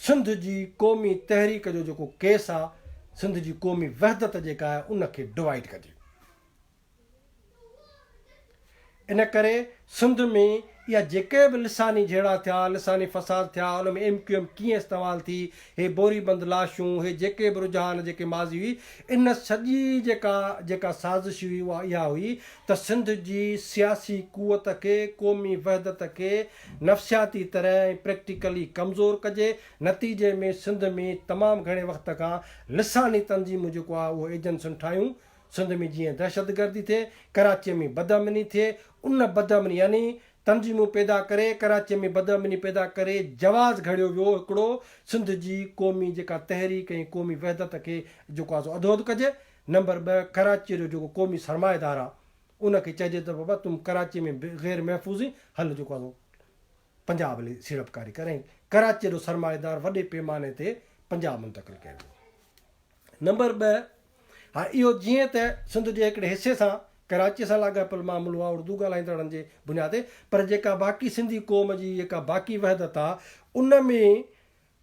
سنڌ جي قومي تحريڪ جو جيڪو ڪيس آ، سنڌ جي قومي وحدت جيڪا آهي، ان کي ڊوائيڊ ڪجي. ان ڪري سنڌ ۾ اها جيڪي به لساني جهيڙا ٿيا، لساني فساد ٿيا، ان ۾ ايم ڪيو ايم ڪيئن استعمال ٿي، هي بوري بند لاشون، هي جيڪي به رجحان، جيڪي ماضي هئي، ان سڄي جيڪا جيڪا سازش هئي اها اها هئي ته سنڌ جي سياسي قوت کي، قومي وحدت کي نفسياتي طرح ۽ پريڪٽيڪلي ڪمزور ڪجي، نتيجي ۾ سنڌ ۾ تمام گهڻي وقت کان لساني تنظيمون جيڪو آهي اهو ايجنسين ٺاهيون، سنڌ ۾ جيئن دهشتگردي ٿئي، ڪراچيء ۾ بدامني ٿئي، ان بدامني يعني تنظيمون پيدا ڪري، ڪراچيء ۾ بدامني پيدا ڪري جواز گهڙيو ويو هڪڙو سنڌ جي قومي جيڪا تحريڪ ۽ قومي وحدت کي جيڪو آهي سو اڌوڌ ڪجي. نمبر ٻه ڪراچيء جو جيڪو قومي سرمائيدار آهي، ان کي چئجي ته بابا تون ڪراچيء ۾ غير محفوظ هين، هل جيڪو آهي سو. پنجاب لي سيڙپڪاري ڪري ۽ ڪراچيء جو سرمائيدار وڏي پيماني تي پنجاب منتقل ڪيو ويو. نمبر ٻه، هاء اهو جيئن ته سنڌ جي هڪڙي حصي سان ڪراچيء سان لاڳاپيل معاملو آهي اردو ڳالهائيندڙن جي بنياد تي، پر جيڪا باقي سنڌي قوم جي جيڪا باقي وحدت آهي، ان ۾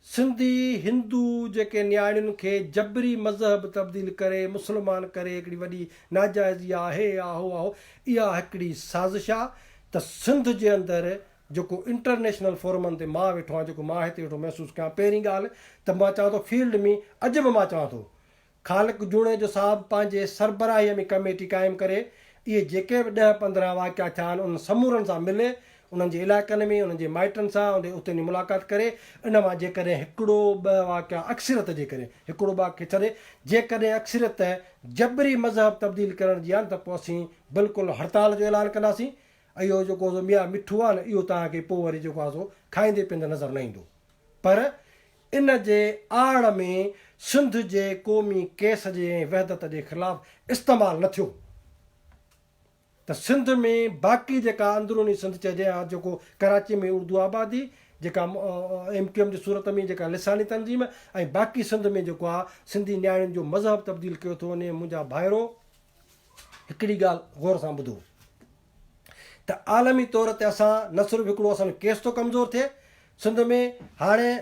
سنڌي هندو جيڪي نياڻين کي جبري مذهب تبديل ڪري مسلمان ڪري هڪڙي وڏي ناجائزي آهي آهو آهو اها هڪڙي سازش آ ته سنڌ جي اندر جيڪو انٽرنيشنل فورمن تي مان ويٺو آهيان جيڪو مان هتي ويٺو محسوس ڪيان پهرين ڳالهه ته مان چوان ٿو فيلڊ ۾ اڄ به مان چوان ٿو خالق جوڻيجو صاحب پنهنجي سربراهيء ۾ ڪميٽي قائم ڪري، اهي جيڪي به ڏهه پندرهن واقعا ٿيا آهن، انهن سمورن سان ملي، انهن جي علائقن ۾ انهن جي مائٽن سان هوندي اتي وڃي ملاقات ڪري، ان مان جيڪڏهن هڪڙو ٻه واقعا اڪثريت جي ڪري، هڪڙو ٻه کي ڇڏي، جيڪڏهن اڪثريت جبري مذهب تبديل ڪرڻ جي آهن ته پوء اسين بلڪل هڙتال جو اعلان ڪنداسين، اهو جيڪو سو ميان مٺو آهي نه اهو توهان کي پوء وري جيڪو آهي سو کائيندي پيئندي نظر نه ايندو پر ان جي آڙ ۾ سنڌ جي قومي ڪيس جي ۽ وحدت جي خلاف استعمال نه ٿيو ته سنڌ ۾ باقي جيڪا اندروني سنڌ چئجي ها جيڪو ڪراچي ۾ اردو آبادي جيڪا ايم ڪيو ايم جي صورت ۾ جيڪا لساني تنظيم ۽ باقي سنڌ ۾ جيڪو آ سنڌي نياڻين جو مذهب تبديل ڪيو ٿو وڃي منهنجا ڀائرو هڪڙي ڳالهه غور سان ٻڌو. ته عالمي طور تي اسان نه صرف هڪڙو اسان ڪيس ٿو ڪمزور ٿئي سنڌ ۾ هاڻي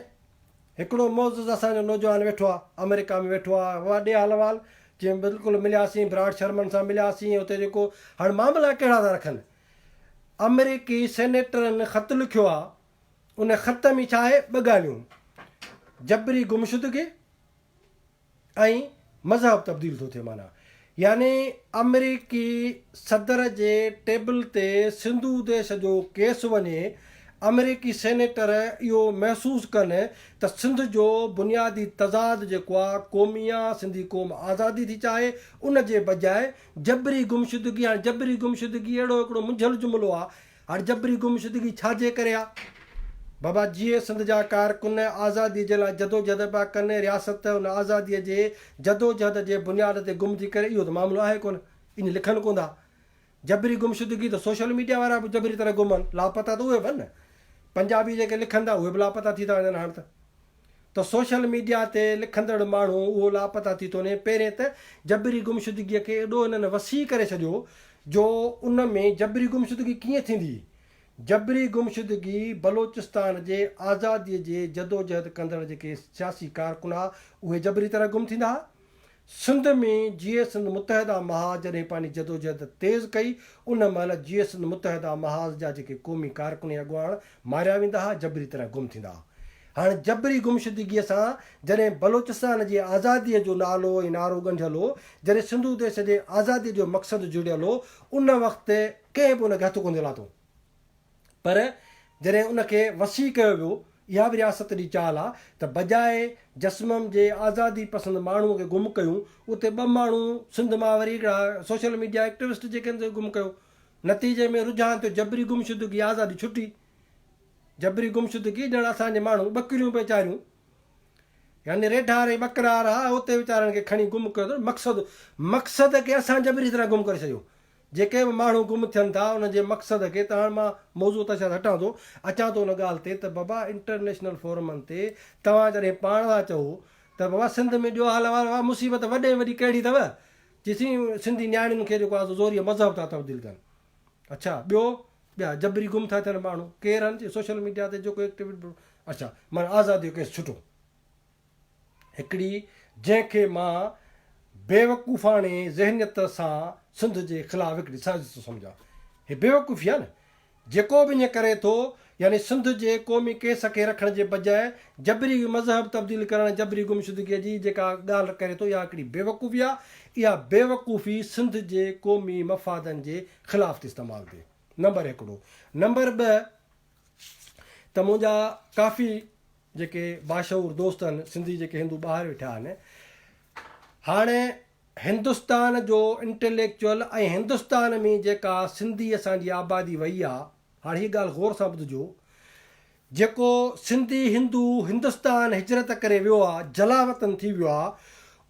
هڪڙو معزز اسان جو نوجوان ويٺو آ آمريڪا ۾ ويٺو آ وڏي حال احوال جي بلڪل ملياسين براڊ شرمن سان ملياسين اتي جيڪو هاڻي معاملا ڪهڙا ٿا رکن آمريڪي سينيٽرن خط لکيو آ ان خط ۾ ڇا آهي ٻه ڳالهيون جبري گمشدگي ۽ مذهب تبديل ٿو ٿئي معنيٰ يعني آمريڪي صدر جي ٽيبل تي سنڌو ديش جو ڪيس وڃي آمريڪي سينيٽر اهو محسوس ڪن ته سنڌ جو بنيادي تضاد جيڪو آ قومي آ سنڌي قوم آزادي ٿي چاهي ان جي بجاء جبري گمشدگي هاڻي جبري گمشدگي اهڙو هڪڙو منجهيل جملو آ هاڻ جبري گمشدگي ڇا جي ڪري آ؟ بابا جيئي سنڌ جا ڪارڪن آزادي جي لاء جدوجهد پيا ڪن، رياست ته ان آزادي جي جدوجهد جي بنياد تي گم ٿي ڪري اهو ته معاملو آهي ڪونه ايئن لکن ڪون ٿا. جبري گمشدگي ته سوشل ميڊيا وارا به جبري طرح گم آهن، لاپتا ته اهي به آهن نه. پنجابي جيڪي لکن ٿا اهي به لاپتا ٿي ٿا وڃن هاڻ ته. ته سوشل ميڊيا تي لکندڙ ماڻهو اهو لاپتا ٿي ٿو وڃي، پهرين ته جبري گمشدگيء کي ايڏو هنن وسيع ڪري ڇڏيو جو ان ۾ جبري گمشدگي ڪيئن ٿيندي؟ جبري گمشدگي بلوچستان جي آزاديء جي جدوجهد ڪندڙ جيڪي سياسي ڪارڪن ها اهي جبري طرح گم ٿيندا ها، سنڌ ۾ جيئي سنڌ متحده محاذ جڏهن پنهنجي جدوجهد تيز ڪئي، ان مهل جيئي سنڌ متحده محاذ جا جيڪي قومي ڪارڪن ۽ اڳواڻ ماريا ويندا ها، جبري طرح گم ٿيندا ها. هاڻ جبري گمشدگيء سان جڏهن بلوچستان جي آزاديء جو نالو ۽ نعرو ڳنڍيل هو، جڏهن سنڌو ديس جي آزاديء جو مقصد جڙيل هو، ان وقت ڪنهن به ان کي هٿ ڪونه ٿي لاتو. پر جڏهن ان کي وسيع ڪيو ويو، اها به رياست جي چال آ ته بجاء جسمم جي آزادي پسند ماڻهوء کي گم ڪيون، اتي ٻه ماڻهو سنڌ مان وري هڪڙا سوشل ميڊيا ايڪٽوسٽ جيڪي هن کي گم ڪيو. نتيجي ۾ رجحان ٿيو جبري گمشدگي آزادي ڇٽي. جبري گمشدگي ڄڻ اسان جي ماڻهو ٻڪريون ويچاريون يعني ريڍار ۽ ٻڪرار ها اتي ويچارن کي کڻي گم ڪيو اٿن مقصد مقصد کي اسان جبري طرح گم ڪري ڇڏيو. جيڪي به ماڻهو گم ٿين ٿا انهن جي مقصد کي ته هاڻ مان موضوع تان شايد هٽان ٿو اچان ٿو ان ڳالهه تي ته بابا انٽرنيشنل فورمن تي توهان جڏهن پاڻ ٿا چئو ته بابا سنڌ ۾ ڏيو حال احوال بابا مصيبت وڏي ۾ وڏي ڪهڙي اٿو جي سين سنڌي نياڻين کي جيڪو آهي زوريء مذهب ٿا تبديل ڪن اڇا ٻيو ٻيا جبري گم ٿا ٿين ماڻهو ڪير هن جي سوشل ميڊيا تي جيڪو ايڪٽيوٽ اڇا ماڻهو آزاديء جو ڪيس ڇٽو. هڪڙي جنهن کي مان بيوقوفاڻي ذهنيت سان سنڌ جي خلاف هڪڙي سازش ٿو سمجهان. هي بيوقوفي آهي نه. جيڪو به ائين ڪري ٿو يعني سنڌ جي قومي ڪيس کي رکڻ جي بجاء جبري مذهب تبديل ڪرڻ جبري گمشدگي جي جيڪا ڳالهه ڪري ٿو اها هڪڙي بيوقوفي آهي. اها بيوقوفي سنڌ جي قومي مفادن جي خلاف ٿي استعمال ٿئي. نمبر هڪڙو. نمبر ٻه ته منهنجا ڪافي جيڪي باشعور دوست آهن سنڌي جيڪي هندو ٻاهر ويٺا آهن هاڻي هندستان جو انٽليڪچوئل ۽ هندستان ۾ جيڪا سنڌي اسان جي آبادي وئي آ هاڻي هي ڳالهه غور سان ٻڌجو جيڪو سنڌي هندو هندستان هجرت ڪري ويو آ جلاوطن ٿي ويو آ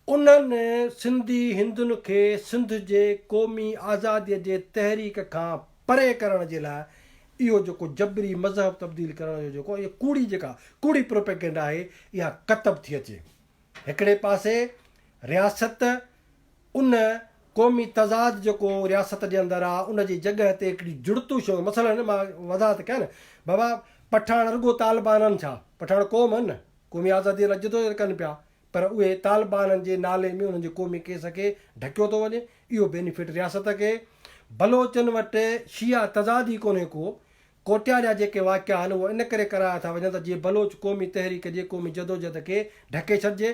انهن سنڌي هندن کي سنڌ جي قومي آزاديء جي تحريڪ کان پري ڪرڻ جي لاء اهو جيڪو جبري مذهب تبديل ڪرڻ جو جيڪو اهي ڪوڙي جيڪا ڪوڙي پروپيگنڊا آهي اها ڪتب ٿي اچي هڪڙي پاسي رياست ان قومي تضاد جيڪو رياست جي اندر آ ان جي جڳهه تي هڪڙي جڙتو شيون مثلا مان وضاحت ڪيا نه بابا پٺاڻ رڳو طالبانن ڇا پٺاڻ قوم آهن نه قومي آزاديء لاء جدوجهد ڪن پيا پر اهي طالبانن جي نالي ۾ انهن جي قومي ڪيس کي ڍڪيو ٿو وڃي، اهو بينيفٽ رياست کي، بلوچن وٽ شيعا تضاد ئي ڪونهي ڪو، ڪوٽيا جا جيڪي واقعا آهن اهو ان ڪري ڪرايا ٿا وڃن ته جيئن بلوچ قومي تحريڪ جي قومي جدوجهد کي ڍڪي ڇڏجي،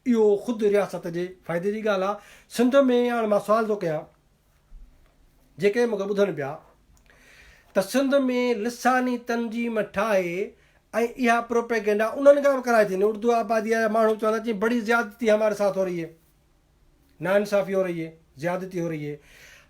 اهو خود رياست جي فائدي جي ڳالهه آ، سنڌ ۾ هاڻ مان سوال ٿو ڪيان. جيڪي مون کي ٻڌن پيا ته سنڌ ۾ لساني تنظيم ٺاهي ۽ اها پروپيگنڊا انهن کان به ڪرائي ٿي اردو آبادي جا ماڻهو چوندا چي بڙي زيادتي هماري ساٿ هو رهي هي ناانصافي هو رهي هي زيادتي هو رهي هي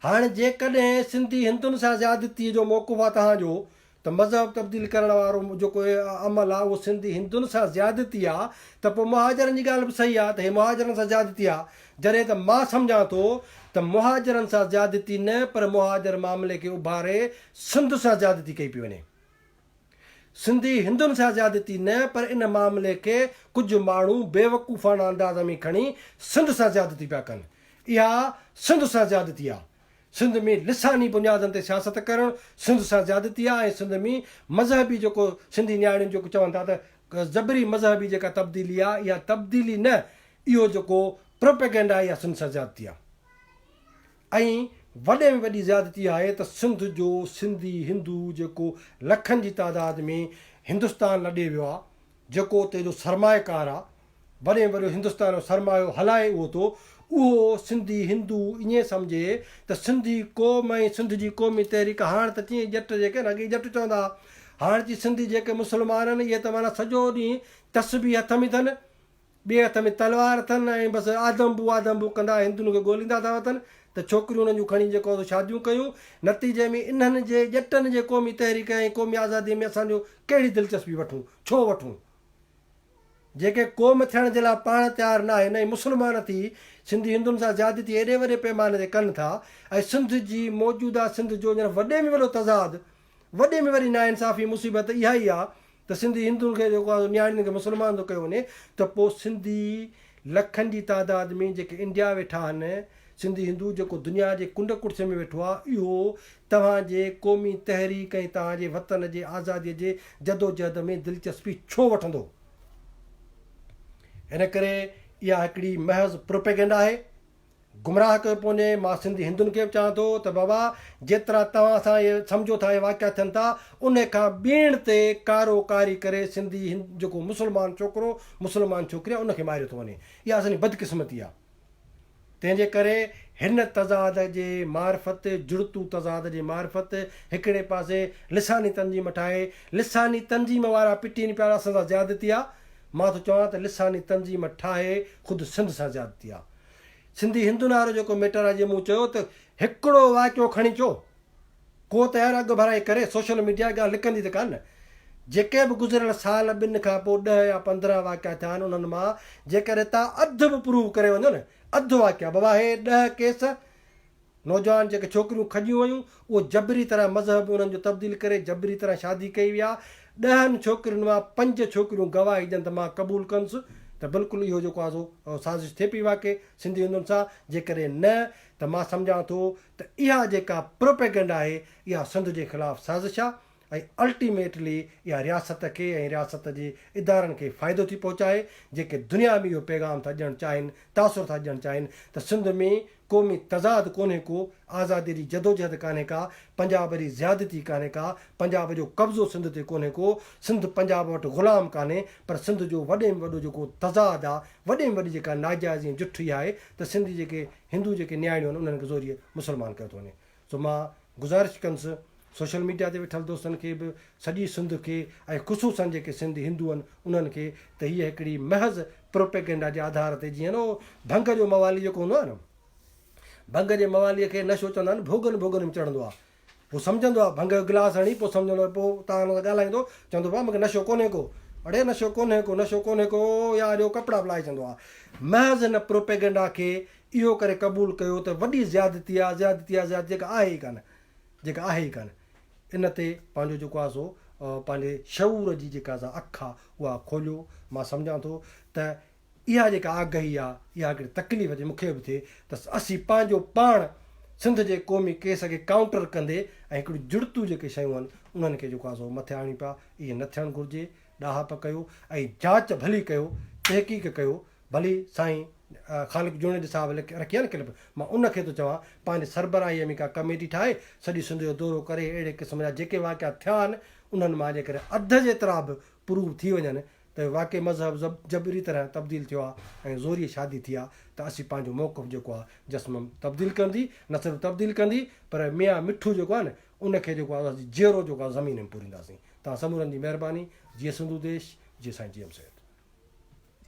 هاڻ جيڪڏهن سنڌي هندن سان زيادتي جو موقف آ توهان جو ته مذهب تبديل ڪرڻ وارو جيڪو عمل آ اهو سنڌي هندن سان زيادتي آ ته پوء مهاجرن جي ڳالهه به صحيح آ ته هي مهاجرن سان زيادتي آ جڏهن ته مان سمجهان ٿو ته مهاجرن سان زيادتي نه پر مهاجر معاملي کي اڀاري سنڌ سان زيادتي ڪئي پئي وڃي سنڌي هندن سان زيادتي نه پر ان معاملي کي ڪجهه ماڻهو بيوقوفاڻه انداز ۾ کڻي سنڌ سان زيادتي پيا ڪن اها سنڌ سان زيادتي آ. سنڌ ۾ لساني بنيادن تي سياست ڪرڻ سنڌ سان زيادتي آ ۽ سنڌ ۾ مذهبي جيڪو سنڌي نياڻين جيڪو چون ٿا ته زبري مذهبي جيڪا تبديلي آ اها تبديلي نه اهو جيڪو پروپيگنڊا آ اها سنڌ سان زيادتي آ ۽ وڏي ۾ وڏي زيادتي اها آهي ته سنڌ جو سنڌي هندو جيڪو لکن جي تعداد ۾ هندستان لڏي ويو آ جيڪو اتي جو سرمايه ڪار آ وڏي وڏو هندستان جو سرمايو هلائي اهو ٿو اهو سنڌي هندو ائين سمجهي ته سنڌي قوم ۽ سنڌ جي قومي تحريڪ هاڻ ته چين ڄٽ جيڪي نه اڳي ڄٽ چوندا ها هاڻ چين سنڌي جيڪي مسلمان آهن اهي ته معنيٰ سڄو ڏينهن تسبيح هٿ ۾ اٿن ٻئي هٿ ۾ تلوار اٿن ۽ بس آدمبو آدمبو ڪندا هندن کي ڳوليندا ٿا وتن ته ڇوڪريون انهن جون کڻي جيڪو سو شاديون ڪيون نتيجي ۾ انهن جي ڄٽن جي قومي تحريڪ ۽ قومي آزادي ۾ اسان جو ڪهڙي دلچسپي وٺون ڇو وٺون. جيڪي قوم ٿيڻ جي لاء پاڻ تيار ناهي نه ئي مسلمان ٿي سنڌي هندن سان زيادتي ايڏي وڏي پيماني تي ڪن ٿا ۽ سنڌ جي موجوده سنڌ جو ڄڻ وڏي ۾ وڏو تضاد وڏي ۾ وڏي ناانصافي مصيبت ته اها ئي آ ته سنڌي هندن کي جيڪو آ نياڻين کي مسلمان ٿو ڪيو وڃي ته پو سنڌي لکن جي تعداد ۾ جيڪي انڊيا ويٺا آهن سنڌي هندو جيڪو دنيا جي ڪنڊ ڪڙڇ ۾ ويٺو آ اهو توهان جي قومي تحريڪ ۽ توهان جي وطن جي آزادي جي جدوجهد ۾ دلچسپي ڇو وٺندو؟ ان ڪري اها هڪڙي محض پروپيگنڊ آهي. گمراهه ڪيو پوء ني مان سنڌي هندن کي به چوان ٿو ته بابا جيترا توهان سان اهي سمجهو ٿا اهي واقعا ٿين ٿا ان کان ٻيڻ تي ڪارو ڪاري ڪري سنڌي هند جيڪو مسلمان ڇوڪرو مسلمان ڇوڪري آهي ان کي ماريو ٿو وڃي اها اسان جي بدقسمتي آهي. تنهن جي ڪري هن تضاد جي معرفت جڙتو تضاد جي معرفت هڪڙي پاسي لساني تنظيم ٺاهي لساني تنظيم وارا پٽين پيا اسان سان زيادتي آ مان ٿو چوان ته لساني تنظيم ٺاهي خود سنڌ سان زيادتي آ سنڌي هندن وارو جيڪو ميٽر آ جي مون چيو ته هڪڙو واقعو کڻي چو ڪو ته يار اڳڀرائي ڪري سوشل ميڊيا ڳالهه لڪندي ته ڪانه. جيڪي به گذريل سال ٻن کان پوء ڏهه يا پندرهن واقعا ٿيا آهن انهن مان جيڪڏهن تا اڌ به پروف ڪري وڃو نه اڌ واقعا به واهي ڏهه ڪيس نوجوان جيڪي ڇوڪريون کڄيون ويون اهي جبري طرح مذهب انهن جو تبديل ڪري جبري طرح شادي ڪئي ويا ڏهن ڇوڪرين مان پنج ڇوڪريون گواهي ڏين ته مان قبول ڪنس ته بلڪل اهو جيڪو آهي سو سازش ٿئي پئي واقعي سنڌي هندن سان جيڪڏهن نه ته مان سمجهان ٿو ته اها جيڪا پروپيگنڊ آهي اها سنڌ جي خلاف سازش آهي ۽ الٽيميٽلي اها رياست کي ۽ رياست جي ادارن کي فائدو ٿي پهچائي جيڪي دنيا ۾ اهو پيغام ٿا ڏيڻ چاهين تاثر ٿا ڏيڻ چاهين ته سنڌ ۾ قومي تضاد ڪونهي ڪو آزادي جي جدوجهد ڪانهي ڪا پنجاب ري زيادتي ڪانهي ڪا پنجاب جو قبضو سنڌ تي ڪونهي ڪو سنڌ پنجاب وٽ غلام ڪانهي پر سنڌ جو وڏي ۾ وڏو جيڪو تضاد آهي وڏي ۾ وڏي جيڪا ناجائزي ۽ جٺي آهي ته سنڌ جي جيڪي هندو جيڪي نياڻيون آهن انهن کي زوريء مسلمان ڪيو ٿو وڃي سو مان گذارش ڪنس سوشل ميڊيا تي ويٺل دوستن کي به سڄي سنڌ کي ۽ خصوصن جيڪي سنڌ هندو آهن انهن کي ته هيء هڪڙي محض پروپيگنڊا جي آڌار تي جيئن نه ڀنگ جو موالي جيڪو هوندو آهي نه ڀنگ جي موالي کي نشو چوندا آهن ڀوڳن ڀوڳن ۾ چڙهندو آهي هو سمجهندو آهي، ڀنگ جو گلاس هڻي پوء سمجهندو آهي، پوء توهان هن سان ڳالهائيندو، چوندو ڀاء مونکي نشو ڪونهي ڪو، اڙي نشو ڪونهي ڪو، نشو ڪونهي ڪو يا اڙي هو ڪپڙا به لاهي چوندو آهي. محض هن پروپيگنڊا کي اهو ڪري قبول ڪيو ته وڏي زيادتي آهي، زيادتي آهي، زيادتي جيڪا آهي ئي ڪانه، جيڪا آهي ئي ڪانه. ان تي پنهنجو جيڪو آهي سو پنهنجي شعور جي جيڪا سا اک آهي اها کوليو، مان سمجهان ٿو ته اها جيڪا آگهي آ اها هڪڙي تڪليف جي مون کي به ٿئي ته اسين پنهنجو پاڻ سنڌ جي قومي ڪيس کي ڪائونٽر ڪندي ۽ هڪڙيون جڙتون جيڪي شيون آهن انهن کي جيڪو آ سو مٿي آڻيون پيا ايئن نه ٿيڻ گهرجي ڏاهپ ڪيو ۽ جاچ ڀلي ڪيو تحقيق ڪيو ڀلي سائين خالق جوڻيجي صاحب رکي آ نه ڪلپ مان ان کي ٿو چوان پنهنجي سربراهي ۾ ڪا ڪميٽي ٺاهي سڄي سنڌ جو دورو ڪري اهڙي قسم جا جيڪي واقعا ٿيا آهن انهن مان جيڪڏهن اڌ جيترا به پروف ٿي وڃن ته واقعي مذهب جبري طرح تبديل ٿيو آهي ۽ زوريء شادي ٿي آهي ته اسين پنهنجو موقف جيڪو آهي جسمم تبديل ڪندي نه صرف تبديل ڪندي پر ميان مٺو جيڪو آهي نه ان کي جيڪو آهي اسين جيئرو جيڪو آهي زمين ۾ پورينداسين توهان سمورن جي مهرباني جيئي سنڌو ديش جيئي سائين جي ايم سيد.